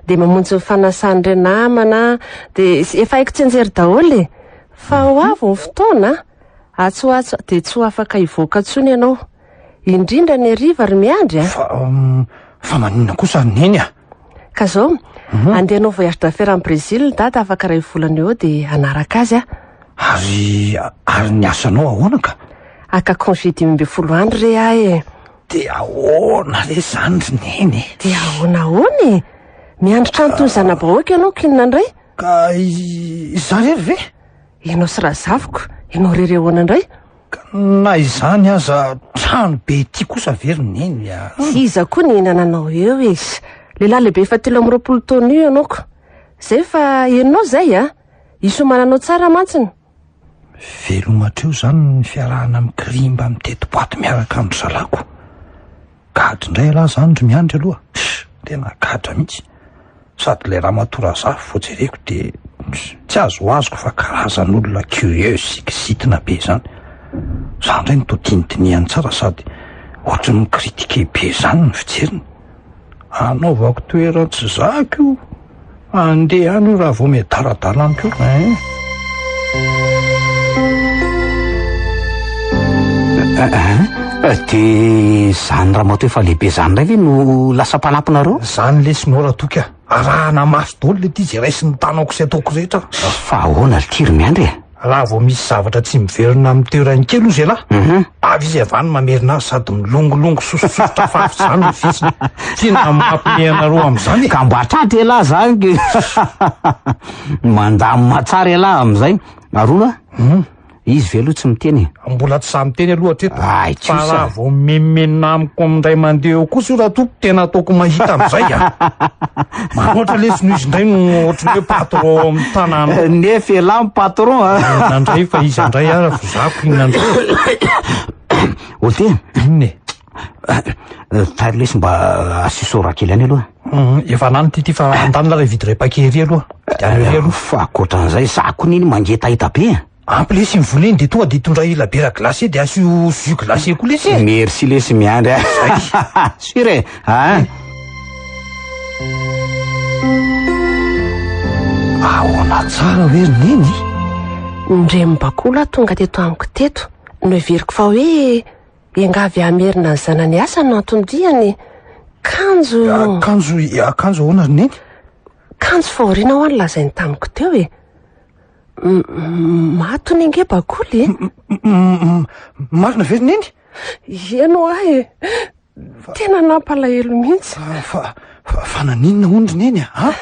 dia mamonjy ny fanasan'ireo namana, dia efa haiko tsenjery daholo e. Fa ho avy ny fotoana a. Atsy ho atsy dia tsy ho afaka hivoaka intsony ianao. Indrindra ny hariva ry Miandry a! Fa, fa maninona kosa ry Neny a! Ka zao, andeha hanao voyage d'affaires any Brésil Dada afaka iray volana eo dia hanaraka azy aho. Ary, ary ny asanao ahoana ka? Haka congé dimy ambin'ny folo andro re aho e! Dia ahoana re izany ry Neny e! Dia ahoana ahoana e! Miandry trano toy ny zana-bahoaka ianao k'inona indray? Ka izaho irery ve? Ianao sy Razafiko, ianao irery ahoana indray? Ka na izany aza, trano be ity kosa ve ry Neny a? Tsy iza koa ny nananao eo e! Lehilahy lehibe efa telo amby roapolo taona io ianao ko! Izay fa henonao izay a! Isomana anao tsara mantsiny! Veloma hatreo izany ny fiarahana mikirimba miteti-boato miaraka amin-dry zalako. Gadra indray ialahy izany ry Miandry aloha a! tena gadra mihitsy, sady ilay ramatoa Razafy vao jereko dia tsy azoazoko fa karazan'olona curieuse sy kizitina be izany, izaho indray no todinidinihany tsara sady ohatran'ny mi-critiquer be izany ny fijeriny, anaovako toeran-tsy zaka io. Andeha any io raha vao miadaradala amiko io eh. De zany ramato efa lehibe zany ndray ve no lasa mpanampinareo Zany lesy nora toky a Arahana maso daholo le ty ze raisin'ny tanako sy ataoko rehetra Fa ahoana litiry miandry e Raha vao misy zavatra tsy miverina amin'ny toerany kely hozy elah, avy izy avy any mamerina azy sady milongolongo sosososotra fafy izany ny vitsiny. Tena mampme anareo amin'izany e! Ka mba tratra elah izany ke! Mandamina tsara elah amin'izay. Ary hono an? Izy ve aloha tsy miteny e? Mbola tsy za miteny aloha hatreto. Ay, tsosa. Fa raha vao mimenomenona amiko indray mandeha eo kosa io raha toa tena ataoko mahita an'izay an! Ohatry lesy no izy ndray no ohatry ny hoe patron ao amin'ny tanàna. Nefa elah ny patron a. Inona ndray fa iza ndray ara vao zako inona ndray. Ote. Inona e. Tairo lesy mba asio sora kely any aloha. Efa lany ty ty fa andanina lay vide ray paquet ery aloha. Dia any ery aloha. Fa ankoatran'izay za kony iny mangetaheta be a. Ampy lesy ny voleny de tonga de hitondra ila bière glacée de asio jus glacé koa lesy e. Merci lesy miandry a. Sur e. Ah. Ahoana tsara hoe ry neny? Ndry mibakolo aho tonga teto amiko teto. Noheveriko fa hoe engavy hamerina ny zanany asa no antony diany. Kanjo. Akanjo akanjo ahoana ry neny? Kanjo fahoriana ho'a ny lazainy tamiko teo e. Maty ny ange bakoly e. Marina ve ry neny? Eny ho ahy e. Tena nampalahelo mihitsy. Ah, fa fa naninona hono ry neny a? Ah?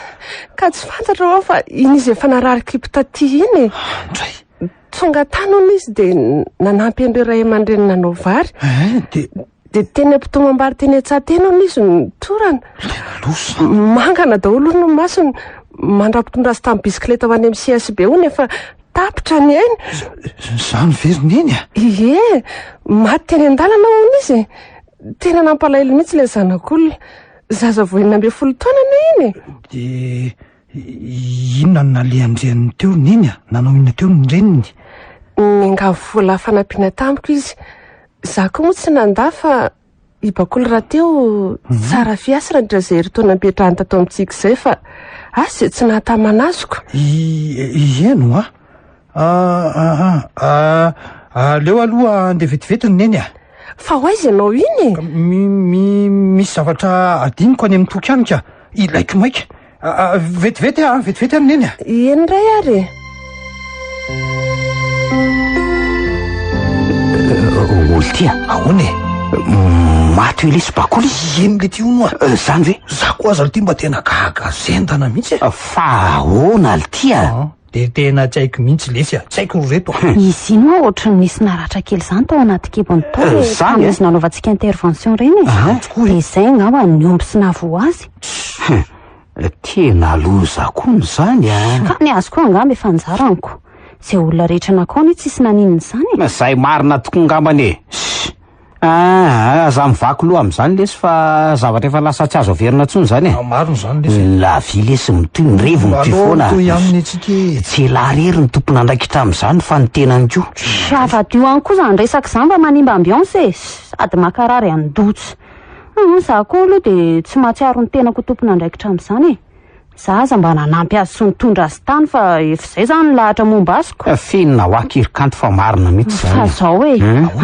Ka tsy fantatra hoa fa iny izy efa narary kibo taty iny e. Indray. Tonga tany hono izy dia nanampy an'ireo ray aman-dreny nanao vary. Eh, dia Dia teny am-pitombo am-bary teny an-tsaha teny hono izy no nitorana. Ilay nalosa. Mangana daholo hono ny masony. Mandra-pitondra azy tamin'ny bisikileta ho any amin'ny CSB hono efa tapitra ny ainy. Izany ve ry Neny a? Ie, maty teny an-dalana hono izy. Tena nampalahelo mihitsy ilay zanak'olona. Zaza vao enina ambin'ny folo taona anie iny e! Dia Inona no nalehan-dreniny teo? Neny a! Nanao inona teo ny reniny? Niangavy vola fanampiana tamiko izy. Izaho koa moa tsy nandà fa i Bakoly rahateo mhm. tsara fiasy raha nitrazay herintaona nipetrahany tato amintsika izay fa asy izay tsy nahatamana azoko. Ieno a! Ah, ah, ah, aleo aloha andeha vetivety ny neny ah. Fa ho aiza ianao iny e? Mi, mi, misy zavatra adiniko any amin'ny toky any ka. Ilaiko maika. Ah, ah, vetivety ah, vetivety any neny ah. Eny ray ary e. Oltia, ahoana e? Maty Elisy Bakoly Eny le ty hono a Zany ve? Za koa aza le ty mba tena gaga zendana mihitsy e Fa ahoana le ty a? Dia tena tsy haiko mihitsy lesy a! Tsy haiko ry reto a! Izy iny hoa ohatran'ny nisy naratra kely izany tao anaty kibony tao e, tamin'ny izy nanaovantsika intervention ireny e! Ahh, tokoa e! Dia izay angamba no nihombo sy nahavoa azy. Hum, tena loza koa ny izany a! Ka ny azy koa angamba efa anjaranko. Izay olona rehetra nakao anie tsisy naninona izany e! Izay marina tokoa angambany e! Ssy! Aah, za mivaky loha amin'izany lesy fa zavatra efa lasa tsy azo averina intsony izany e! Maro izany lesy e! La vie lesy mitohy, ny revy mitohy foana! Mitohy aminy antsika e! Tsy elah rery ny tompon'andraikitra amin'izany fa ny tenany koa! Tsy azo adio ihany koa izany resaka izany fa manimba ambiance e! Sady mankarary an-doha tsy. Humm, za koa aloha dia tsy mahatsiaro ny tenako ho tompon'andraikitra amin'izany e! Za aza mba nanampy azy sy nitondra azy tany fa efa zay zany ny lahatra momba azy ko. F'inona hoa kiry kanto fa marina mihitsy zany e. Fa zao e,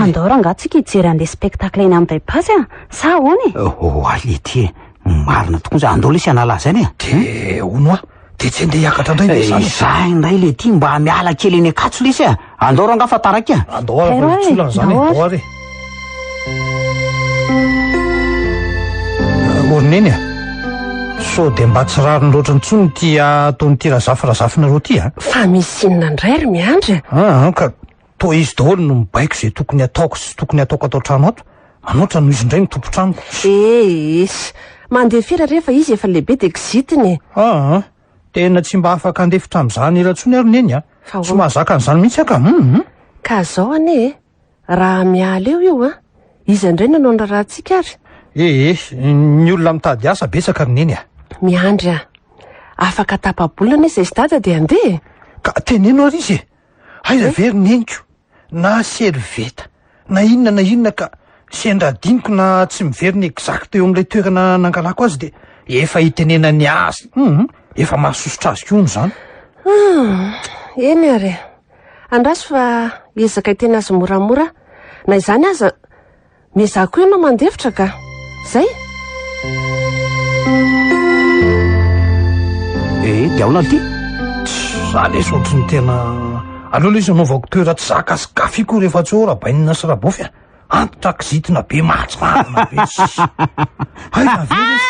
andao rangah tsika hijery an'le spectacle eny am bypass a, sa ahoana e? Oh ality e, marina tokoa zany, andao lesy hanala azy any e. De hono hoa, de tsy andeha hiakatra indray ve zany e? Izaho indray lety mba miala kely eny Ankatso lesy a. Andao rangah fa taraiky a! Andao ary fa tsy olana izany e! Andao ary e! Orineny a! Sao dia mba tsy rariny loatra intsony ity ataon'ity Razafy razafinareo ity a! Fa misy inona indray ry Miandry a! An, ka toa izy daholo no mibaiko izay tokony ataoko sy tsy tokony ataoko ato an-trano ato. Manoatra noho izy indray no tompon-tranoko. Ee, mandeha firy ary efa izy efa lehibe dia kizitina e! An! Tena tsy mba afaka handefitra amin'izany ela intsony aho ry Neny a! Tsy mahazaka an'izany mihitsy aho ka! Hum! Ka zao anie e! Raha miala eo io an! Iza indray no hanao ny raharahantsika ary? Eh eh! Ny olona mitady asa betsaka ry Neny a! Miandry aho! Afaka tapa-bolana anie izay sy Dada dia handeha e! Ka teneno ary izy e! Aiza ve ry neniko na servieta na inona na inona ka sendra adinoko na tsy miverina exact eo amin'ilay toerana nangalako azy dia efa itenenany azy. Hum, efa mahasosotra azy koa hono izany. Ah, eny ary e. Andraso fa hiezaka hiteny azy moramora. Na izany aza, Mais izaho koa ianao mandefitra ka. Zay? Eh, dia aona ity? Tsy za lesy ohatry ny tena aleo lesy anaovako toera tsy zaka sy kafy koa rehefa tsy ho rabainina sy rabofy a. Antitra kizitina be mahatsiravina be. Hay na ve lesy.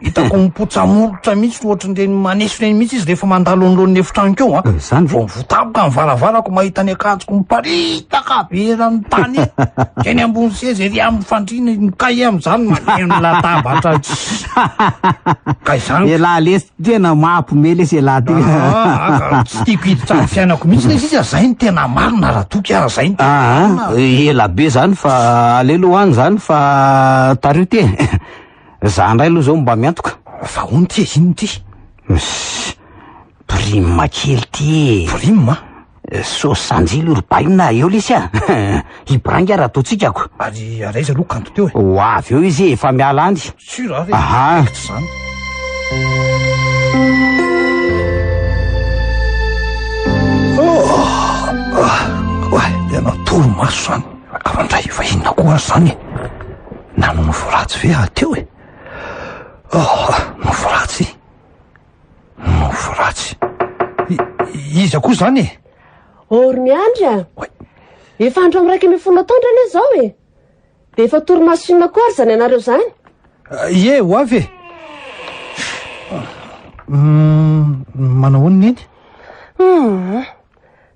Hitako mipotsa-molotra mihitsy ohatry ny reny maneso reny mihitsy izy rehefa mandalo anoloan'ny efitranoko eo an. Izany ve? Vao votaboka ny varavarako mahita ny akanjoko miparitaka be eran'ny tany iny. Eny ambony seza ery amin'ny fandriana ny kahie amin'izany maneno ny latabatra. Ka izany. Elah lesy tena mampme lesy elah ty. Ah, tsy tiako hiditra amin'ny fiainako mihitsy lesy izy zay ny tena marina raha toky ah, zay ny tena ah, marina. Ela be zany fa alelo any zany fa tariho ty e. Za ndray aloha zao mba miantoka. Fa hono ty e, inona ty? Msss, prime kely ty e. Prime a? Sos sanjily ry baina, eo lesy a! Hibrainga ary ataontsika ko. Ary ary aiza aloha kanto teo e? Ho avy eo izy e, efa miala any. Sûr a ve? Aha. Eto zany. Oay, tena torimaso zany. Kara ndray, efa inona koa aza zany e? Nano nofo ratsy ve ah teo e? Oh, nofo ratsy? Nofo ratsy. I- iza koa zany e? Or miandry a. Oay. Efa andro amin'ny raika ambin'ny folo nataondra anie izao e. Dia efa torimaso inona koa ary izany anareo izany? Ah, Ie, ho avy e. Mm, Manao ahoana neny? Hmm.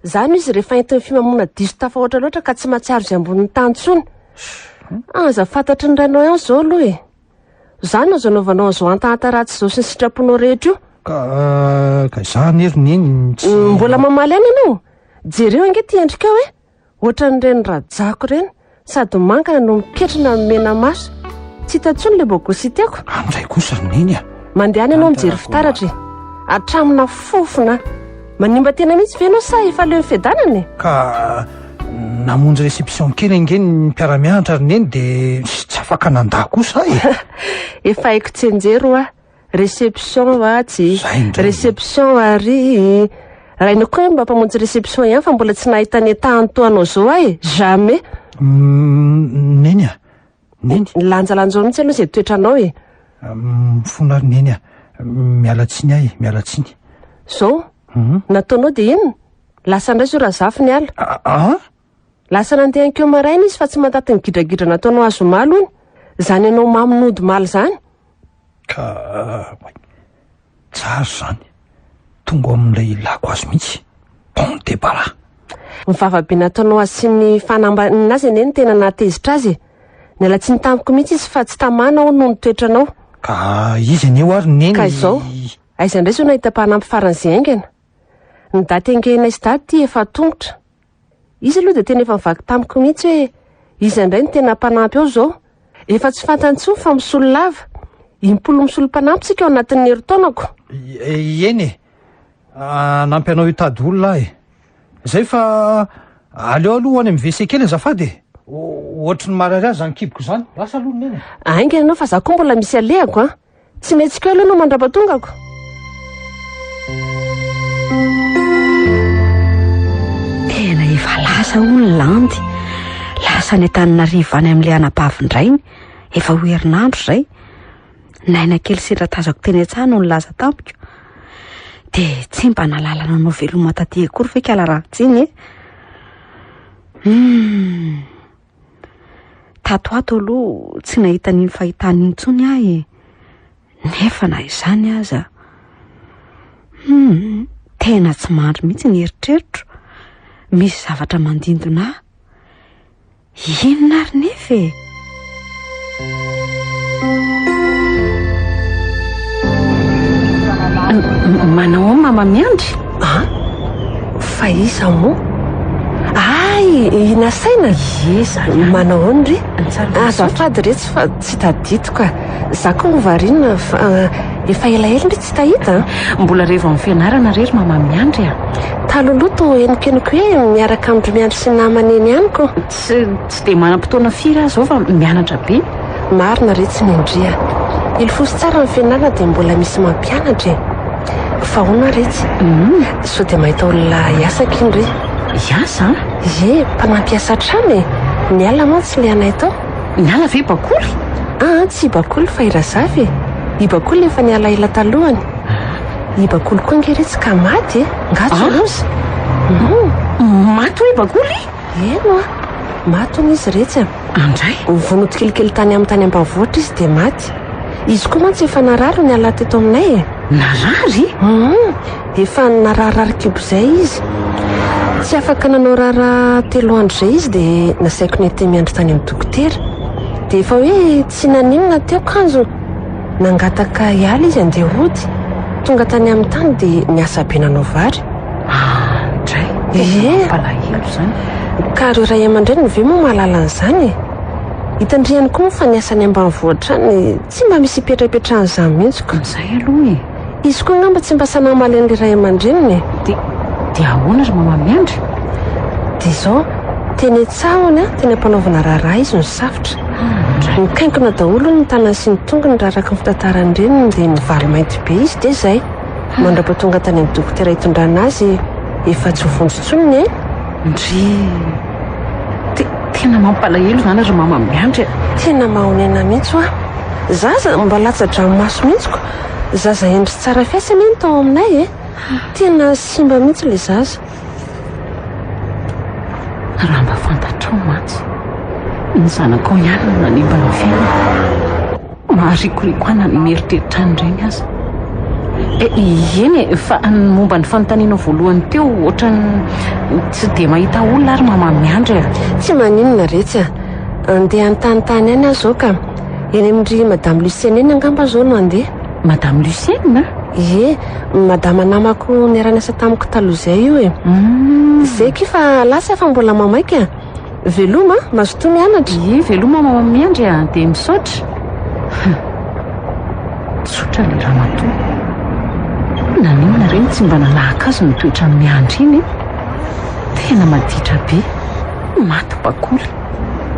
Zany izy rehefa entin'ny fimamoana diso tafahoatra loatra ka tsy mahatsiaro izay ambonin'ny tany intsony. Aza fantatry ny rainao ihany izao aloha e. Zany azo anaovanao an'izao hantahanta ratsy izao sy ny sitraponao rehetra io. Ka, ka izany ry neny tsy. Mbola mamaly ihany ianao? Jereo ange ity endrikao e. Ohatran'ireny rajako ireny, sady mangana no miketrona amin'ny mena maso. Tsy hita intsony ilay bogosy tiako. Any indray kosa ry neny a! Mandehana ianao mijery fitaratra e! Hatraminà fofona! Manimba tena mihitsy ve ianao sa efa leo ny fiadanana e? Ka namonjy réception kely ange ny mpiara-mianatra ry neny dia tsy afaka nandà kosa aho e! Efa haiko tsenjero ho'a! Reception va tsy? Zay indray. Reception ary rainao koa hoe mba mpamonjy reception ihany fa mbola tsy nahita ny entahany toa anao zao aho e. Jamais. Mm, Neny a! Neny! Nilanjalanjao mihitsy aloha izay toetranao e. Mm, Mifono ary Neny a! Miala tsiny ahy, miala tsiny. Zao? Mhm. Nataonao dia inona? Lasa indray zao Razafy niala. A- Ah? Lasa nandeha ankeo maraina izy fa tsy mantaty ny gidragidra nataonao azy omaly hono. Izany ianao mamy nody omaly izany. Ka tsara izany, tonga ao amin'ilay ilako azy mihitsy, bon debarras. Ny vava be nataonao azy sy ny fanambanina azy anie no tena nahatezitra azy e! Niala tsiny tamiko mihitsy izy fa tsy tamana aho noho ny toetranao. Ka izy anie ho ary neny. Ka izao, aiza indray izao nahita mpanampy faran'izay haingana? Ny daty engehinay sy daty efa an-tongotra. Izy aloha dia tena efa nivaky tamiko mihitsy hoe iza indray no tena mpanampy ao izao. Efa tsy fantany intsony fa misolo lava. Impolo misolo mpanampy isika ao anatin'ny herintaonako. Eny e! Hanampy anao hitady olona aho e! Izay fa aleo aloha ho any amin'ny WC kely azafady e! Ohatry ny marary ahy izany kiboko izany. Lasa aloha ny neny e! Haingana ianao fa izaho koa mbola misy alehako an! Tsy mihetsika eo aloha no mandrapa tongako. Tena efa lasa hono ny landy. Lasa any Antananarivo any amin'ilay anabavin-drainy. Efa ho herinandro izay. Naina kely sendra tazako teny an-tsaha no nilaza tamiko. Dia tsy mba nalala nanao veloma taty akory ve kala raha tsy iny e? Hmm. Tato ato aloha tsy nahita an'iny fahitana iny intsony aho e. Nefa na izany aza. Hmm, tena tsy mandry mihitsy ny eritreritro. Misy zavatra mandindona ahy. Inona ary nefa e? Manao ao mama miandry ah fa iza moa ay i nasaina iza manao ao ny re azafady ah, retsy fa tsy tadidiko ka za ko hovariana fa ah, efa elaela ndry tsy tahita ah. mbola revo amin'ny fianarana rery mama miandry a taloloha to henokenoko hoe miaraka amin'ny miandry sy namana eny amiko Tsy tsy dia manam-potoana firy aho izao fa mianatra be. Marina re tsy mendria. Ilfosy tsara ny fianarana dia mbola misy mampianatra e. Fa ahoana re tsy. Sao dia mahita olona hiasa akin re. Hiasa an? Ie, mpanampy hiasa hatrany e. Ny alina mantsy ilay anay tao. Ny ala ve bakoly? Aa tsy i bakoly fa i razafy e. I bakoly efa niala ela talohany. I bakoly koa ange re tsy ka maty e. Nga tsy loza. Maty hoy i bakoly? Heno a! Maty hono izy iretsy a! Andray? Nivono tsikelikely tany aminy tany ambanivohitra izy dia maty. Izy koa mantsy efa narary ny alahady teto aminay e! Narary? Hum! Efa nararirary kibo izay izy. Tsy afaka nanao raharaha telo andro izay izy dia nasaiko nety miandry tany amin'ny dokotera. Dia efa hoe Tsy naninona teo kanjo nangataka hiala izy handeha hody. Tonga tany amin'ny tany dia niasa be nanao vary. Indray! Ie! Mampalahelo izany. Ka ireo ray aman-dreniny ve moa mahalala an'izany e? Hitandrihany koa moa fa ny asany ambanivohitra any tsy mba misy ipetrapetrahan'izany mihitsy ko. Izay aloha e! Izy koa angamba tsy mba sanà hamaly an'ilay ray aman-dreniny e! Dia, dia ahoana ry Mama Miandry? Dia izao, teny an-tsahony an, teny am-panaovana raharaha izy no safotra. Nikaikona daholo hono ny tanany sy ny tongony raha araka ny fitantaran'ny reniny dia nivaly mainty be izy dia izay. Mandrapa tonga tany amin'ny dokotera hitondrana azy efa tsy ho vonjy intsony ny ainy. Ndry! Te, tena mampalahelo izany ry Mama Miandry a! Tena mahonena mihitsy hoa! Za aza mba latsa-dranomaso mihitsy ko! Zaza hendry sy tsara fihetsy anie ny tao aminay e. Tena simba mihitsy ilay zaza. Raha mba fantatrao mantsy, ny zanakao ihany no nanimba ny fiainako. Maharikoriko ahy na ny mieritreritra an'ireny aza. Eny e, fa ny momba ny fanontanianao voalohany teo, ohatran'ny tsy dia mahita olona ary mama miandry e. Tsy maninona Retsy a! Andeha an-tany tany any aho izao ka. Eny amin-dry Madame Lucienne eny angamba aho izao no handeha. Madame Lucienne? Ie, Madama namako niara-niasa tamiko taloha izay io e. Izay akia fa lasa aho fa mbola mamaika. Veloma, mazotoa mianatra. Ie, veloma Mama Miandry a, dia misaotra. Tsotra ilay ramatoa. Naninona re no tsy mba nanahaka azy ny toetran'i Miandry iny e? Tena maditra be. Maty bakoly.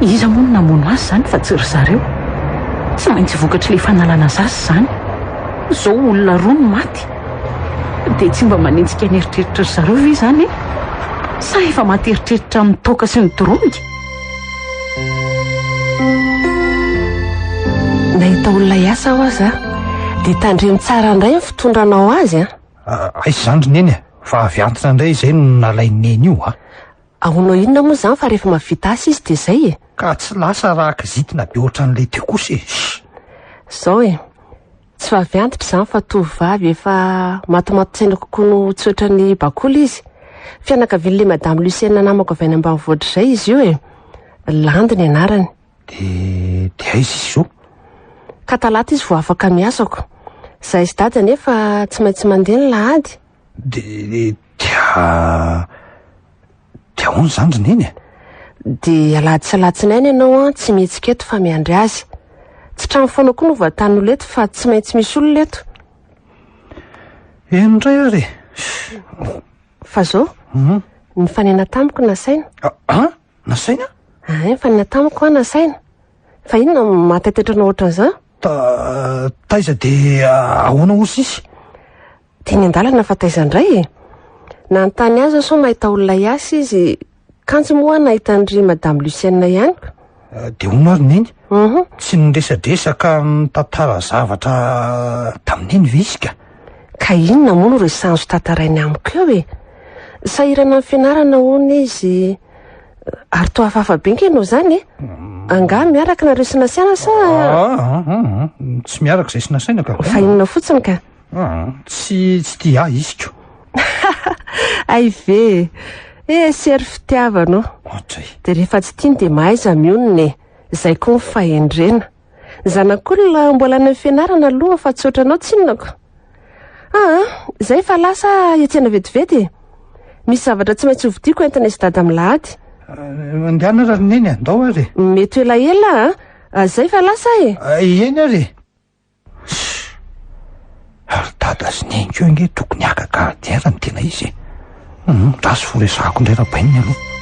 Iza moa no namono azy izany fa tsy ry zareo? Tsy maintsy vokatr'ilay fanalana zaza izany. Izao olona roa no maty. Dia tsy mba manenjika ny eritreritra ry zareo ve izany e? Sa efa maty eritreritra amin'ny toaka sy ny doronika? Nahita olona hiasa aho aza dia tandremo tsara indray ny fitondranao azy an! Aiza izany ry neny a! Fa avy antitra indray izay no nalain'i neny io a! Ahoanao inona moa izany fa rehefa mahavita asa izy dia zay e! Ka tsy lasa raha kizitina be ohatran'ilay teo kosa e! Zao e! Tsy vavy antitra izany fa tovovavy efa matimaty tsaina kokoa no tsy ohatran'ny bakoly izy. Fianakavian'ilay madame Lucienne namako avy any ambanivohitra izay izy io e! Landy ny anarany. Dia dia aiza izy zao? Ka talata izy vao afaka miasako. Zahay sy dada anefa tsy maintsy mandeha ny lahady. Dia dia dia ahoana izany ry Neny e? Dia alahady sy alatsinainy ianao an, tsy mihetsika eto fa miandry azy. Tsy trano foana koa no vatanin'olona eto fa tsy maintsy misy olona eto. Eny indray ary e! Fa izao, mhm. nifanena tamiko nasaina. Ah, ah? Nasaina? Ah, nifanena tamiko an, nasaina. Fa inona no mahataitetranao ohatran'izany? Ta taiza dia ahoana hozy izy? Teny an-dalana fa taiza indray e? Nanontany azy aho sao mahita olona hiasa izy. Kanjo moa aho nahita an-dry Madame Lucienne ihany ko. Ah, dia hono ary neny, Mhm. tsy niresadresa ka nitantara zavatra tamin'iny ve izy ka? Ka inona moa no resahanzo tantarainy amiko eo e? Sahirana amin'ny fianarana hono izy. Ary toa hafahafa be nge nao izany e? Angaha miaraka nareo sy nasiana sa Ah, ah, ah, ah, tsy miaraka izay sy nasaina ka. Fa inona fotsiny ka? Aa tsy tsy tia ahy isiko. Hay ve e! Eh sery fitiavana ô! Ohatra e! Dia rehefa tsy tiany dia mahaiza mionona e! Izay koa ny fahendrena. Ny zanak'olona mbola any amin'ny fianarana aloha fa tsy ohatranao tsinonako. Aa izay fa lasa aho hiatsena vetivety e! Misy zavatra tsy maintsy hovidiako entina izy dada milahady. Mandehana raha ry neny a! Ndao ary e! Mety ho elaela a! Izay fa lasa aho e! Eny ary e! Shh! Ary dada sy neny koa ange tokony haka gardien ny tena izy e! Gasy vao resahako indray Rabaininy aloha.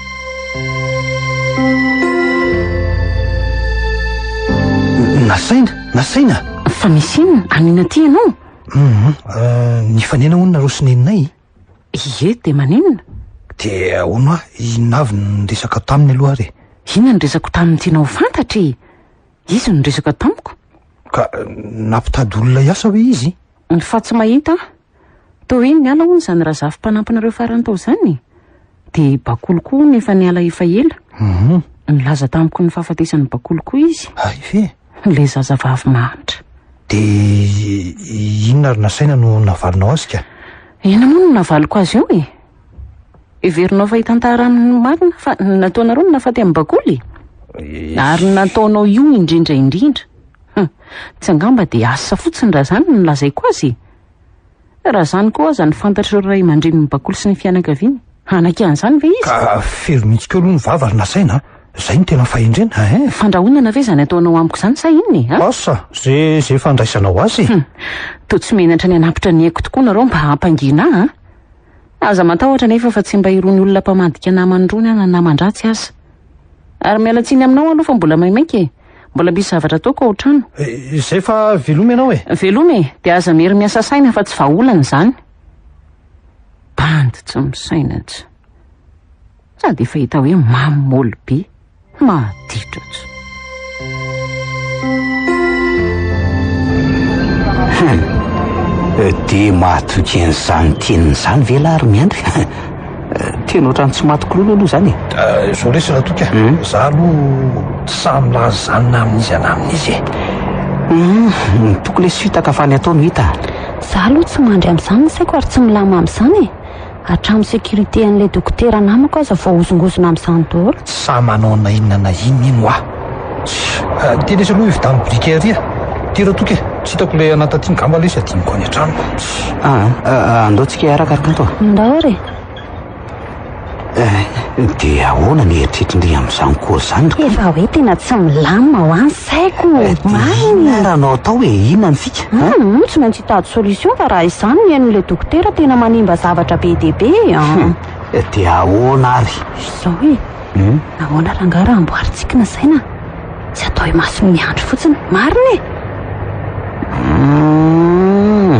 Nasaina? Nasaina? Fa misy inona? Anina aty ianao? Hum, euh, nifanena hono nareo sy neninay. Ie, dia maninona? Dia ahoana hoa, inona avy ny resaka taminy aloha ary e? Inona ny resako taminy tianao ho fantatra e? Izy no niresaka tamiko? Ka nampitady olona hiasa hoe izy? Ny fa tsy mahita aho. Toa hoe niala hono izany Razafy mpanampinareo farany tao izany e. Dia Bakolo koa hono efa niala efa ela. Mhm. Nilaza tamiko ny fahafatesan'i Bakolo koa izy. Hay ve? Ilay zazavavy mahantra. Dia inona ary nasaina no navalinao azy ka? Inona moa no navaliko azy eo e? Heverinao fa hitantara amin'ny marina fa ny nataonareo no nahafaty an'i Bakoly e? Eesh. Ary ny nataonao io indrindra indrindra. Hum, tsy angamba dia asa fotsiny raha izany no lazaiko azy e? Raha izany koa aza no fantatr'ireo ray aman-drenin'i Bakoly sy ny fianakaviany, hanaky an'izany ve izy? Ka feno mihitsy keo aloha ny vava ry nasaina a! Izay no tena fahendrena eh! Fandrahonana ve izany ataonao amiko izany sa inona e? Ah! Asa ze ze fandraisanao azy e! Hum, toa tsy menatra ny hanapitra ny aiko tokoa nareo mba hampangina ahy a! Aza matahotra anefa fa tsy mba irony olona mpamadika namany irony aho na naman-dratsy aza. Ary miala tsiny aminao aloha fa mbola maimaika e! Mbola misy zavatra ataoko ao an-trano. Izay fa veloma ianao e! Veloma e! Dia aza miery miasa saina fa tsy vahaolana izany. Bandy tsy misaina intsony. Sady efa hita hoe mamy moly be. Mahatitatra. Hum. Dia mahatoky an'izany teniny izany ve lahy ry Miandry? Tena ohatran'ny tsy maty kololo aloha izany e. Eh, izao lesy Ratoky a. Hmm? Za aloha tsy sahy milaza izany na amin'iza na amin'iza e. Hmm, toko lesy fitaka fa ny atao no hita. Za aloha tsy mandry amin'izany ny saiko ary tsy milamina amin'izany e. Hatramin'ny sécurité an'ilay dokotera namako aza voahozongozona amin'izany daholo. Sa manao na inona na inona iny hoa? Tsia, dia lesy aloha io vitan'ny biriky ery e! Tira toky e! Tsy hitako ilay anà taty ngamba lesy hadinoko any an-tranoko. Tsia. Aa, andao tsika hiaraka ry Kanto a! Ndao re! Dia ahoana ny eritreritrin'ry amin'izany koa izany ry Kanto? Efa hoe tena tsy milamina hoa! Tsy haiko, marina e! Inona raha anao atao e? Inona ny fika? Hum, tsy maintsy hitady solution fa raha izany ny henon'ilay dokotera tena manimba zavatra be dia be e! Hum, dia ahoana ary? Izao e! Hum? Nahoana rangahy raha amboarintsika ny saina? Tsy atao imason'ny andry fotsiny, marina e! Hum,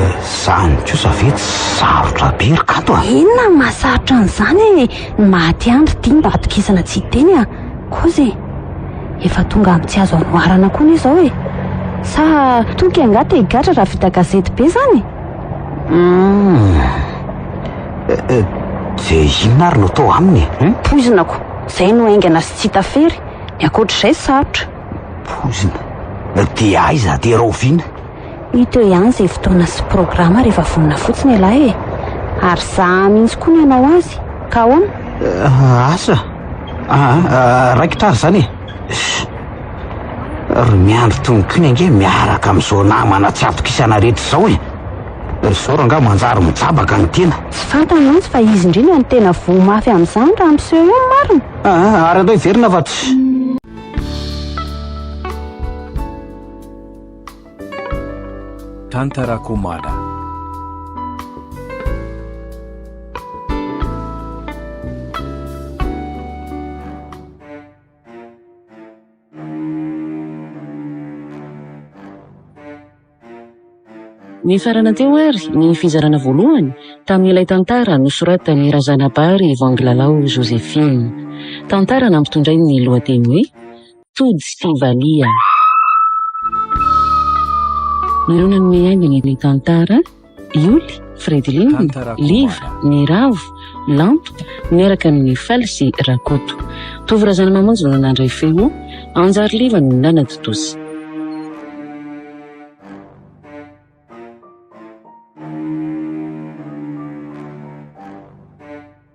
izany kosa ve tsy sarotra be ry Kato a? Inona no mahasarotra an'izany e? Ny maha-tia andry dia mba atokisana tsy hiteny a! Koza e! Efa tonga amin'ny tsy azo anoharana koa anie izao e! Sa toky angaha te-higadra raha vita gazety be izany e! Humm! Dia inona ary no atao aminy e? Humm! Poizinako! Izay no haingana sy tsy hita fery, ny ankoatr'izay sarotra. Poizina? Dia aiza? Dia rahoviana? Hita eo ihany izay fotoana sy programa rehefa vonona fotsiny ialahy e! Ary zahà mihitsy koa ny hanao azy, ka ahoana? Asa? Aa, raikitra ary izany e! Ry miandry tononkiny ange miaraka amin'izao namana tsy atokisana rehetra izao e! Ry zoro angaha manjary mijabaka ny tena? Tsy fantany mantsy fa izy indrindra no tena voa mafy amin'izany raha miseho eo ny marina! Aa, ary andao hiverina fa tsy. Tantarako omaly. Nifarana teo ary ny fizarana voalohany tamin'ilay tantara nosoratan'i Razanabary Vanglalao Josephine. Tantara nampitondrainy ny lohateny hoe Tojo sy valiha. Ireo nanome haingana ny tantara, i Oly, Fredlin, Liva, ny Ravo, Lampo, miaraka amin' i Faly sy Rakoto. Tovo Razanamamonjy no nandray feo, Anjary Liva no nanatontosa.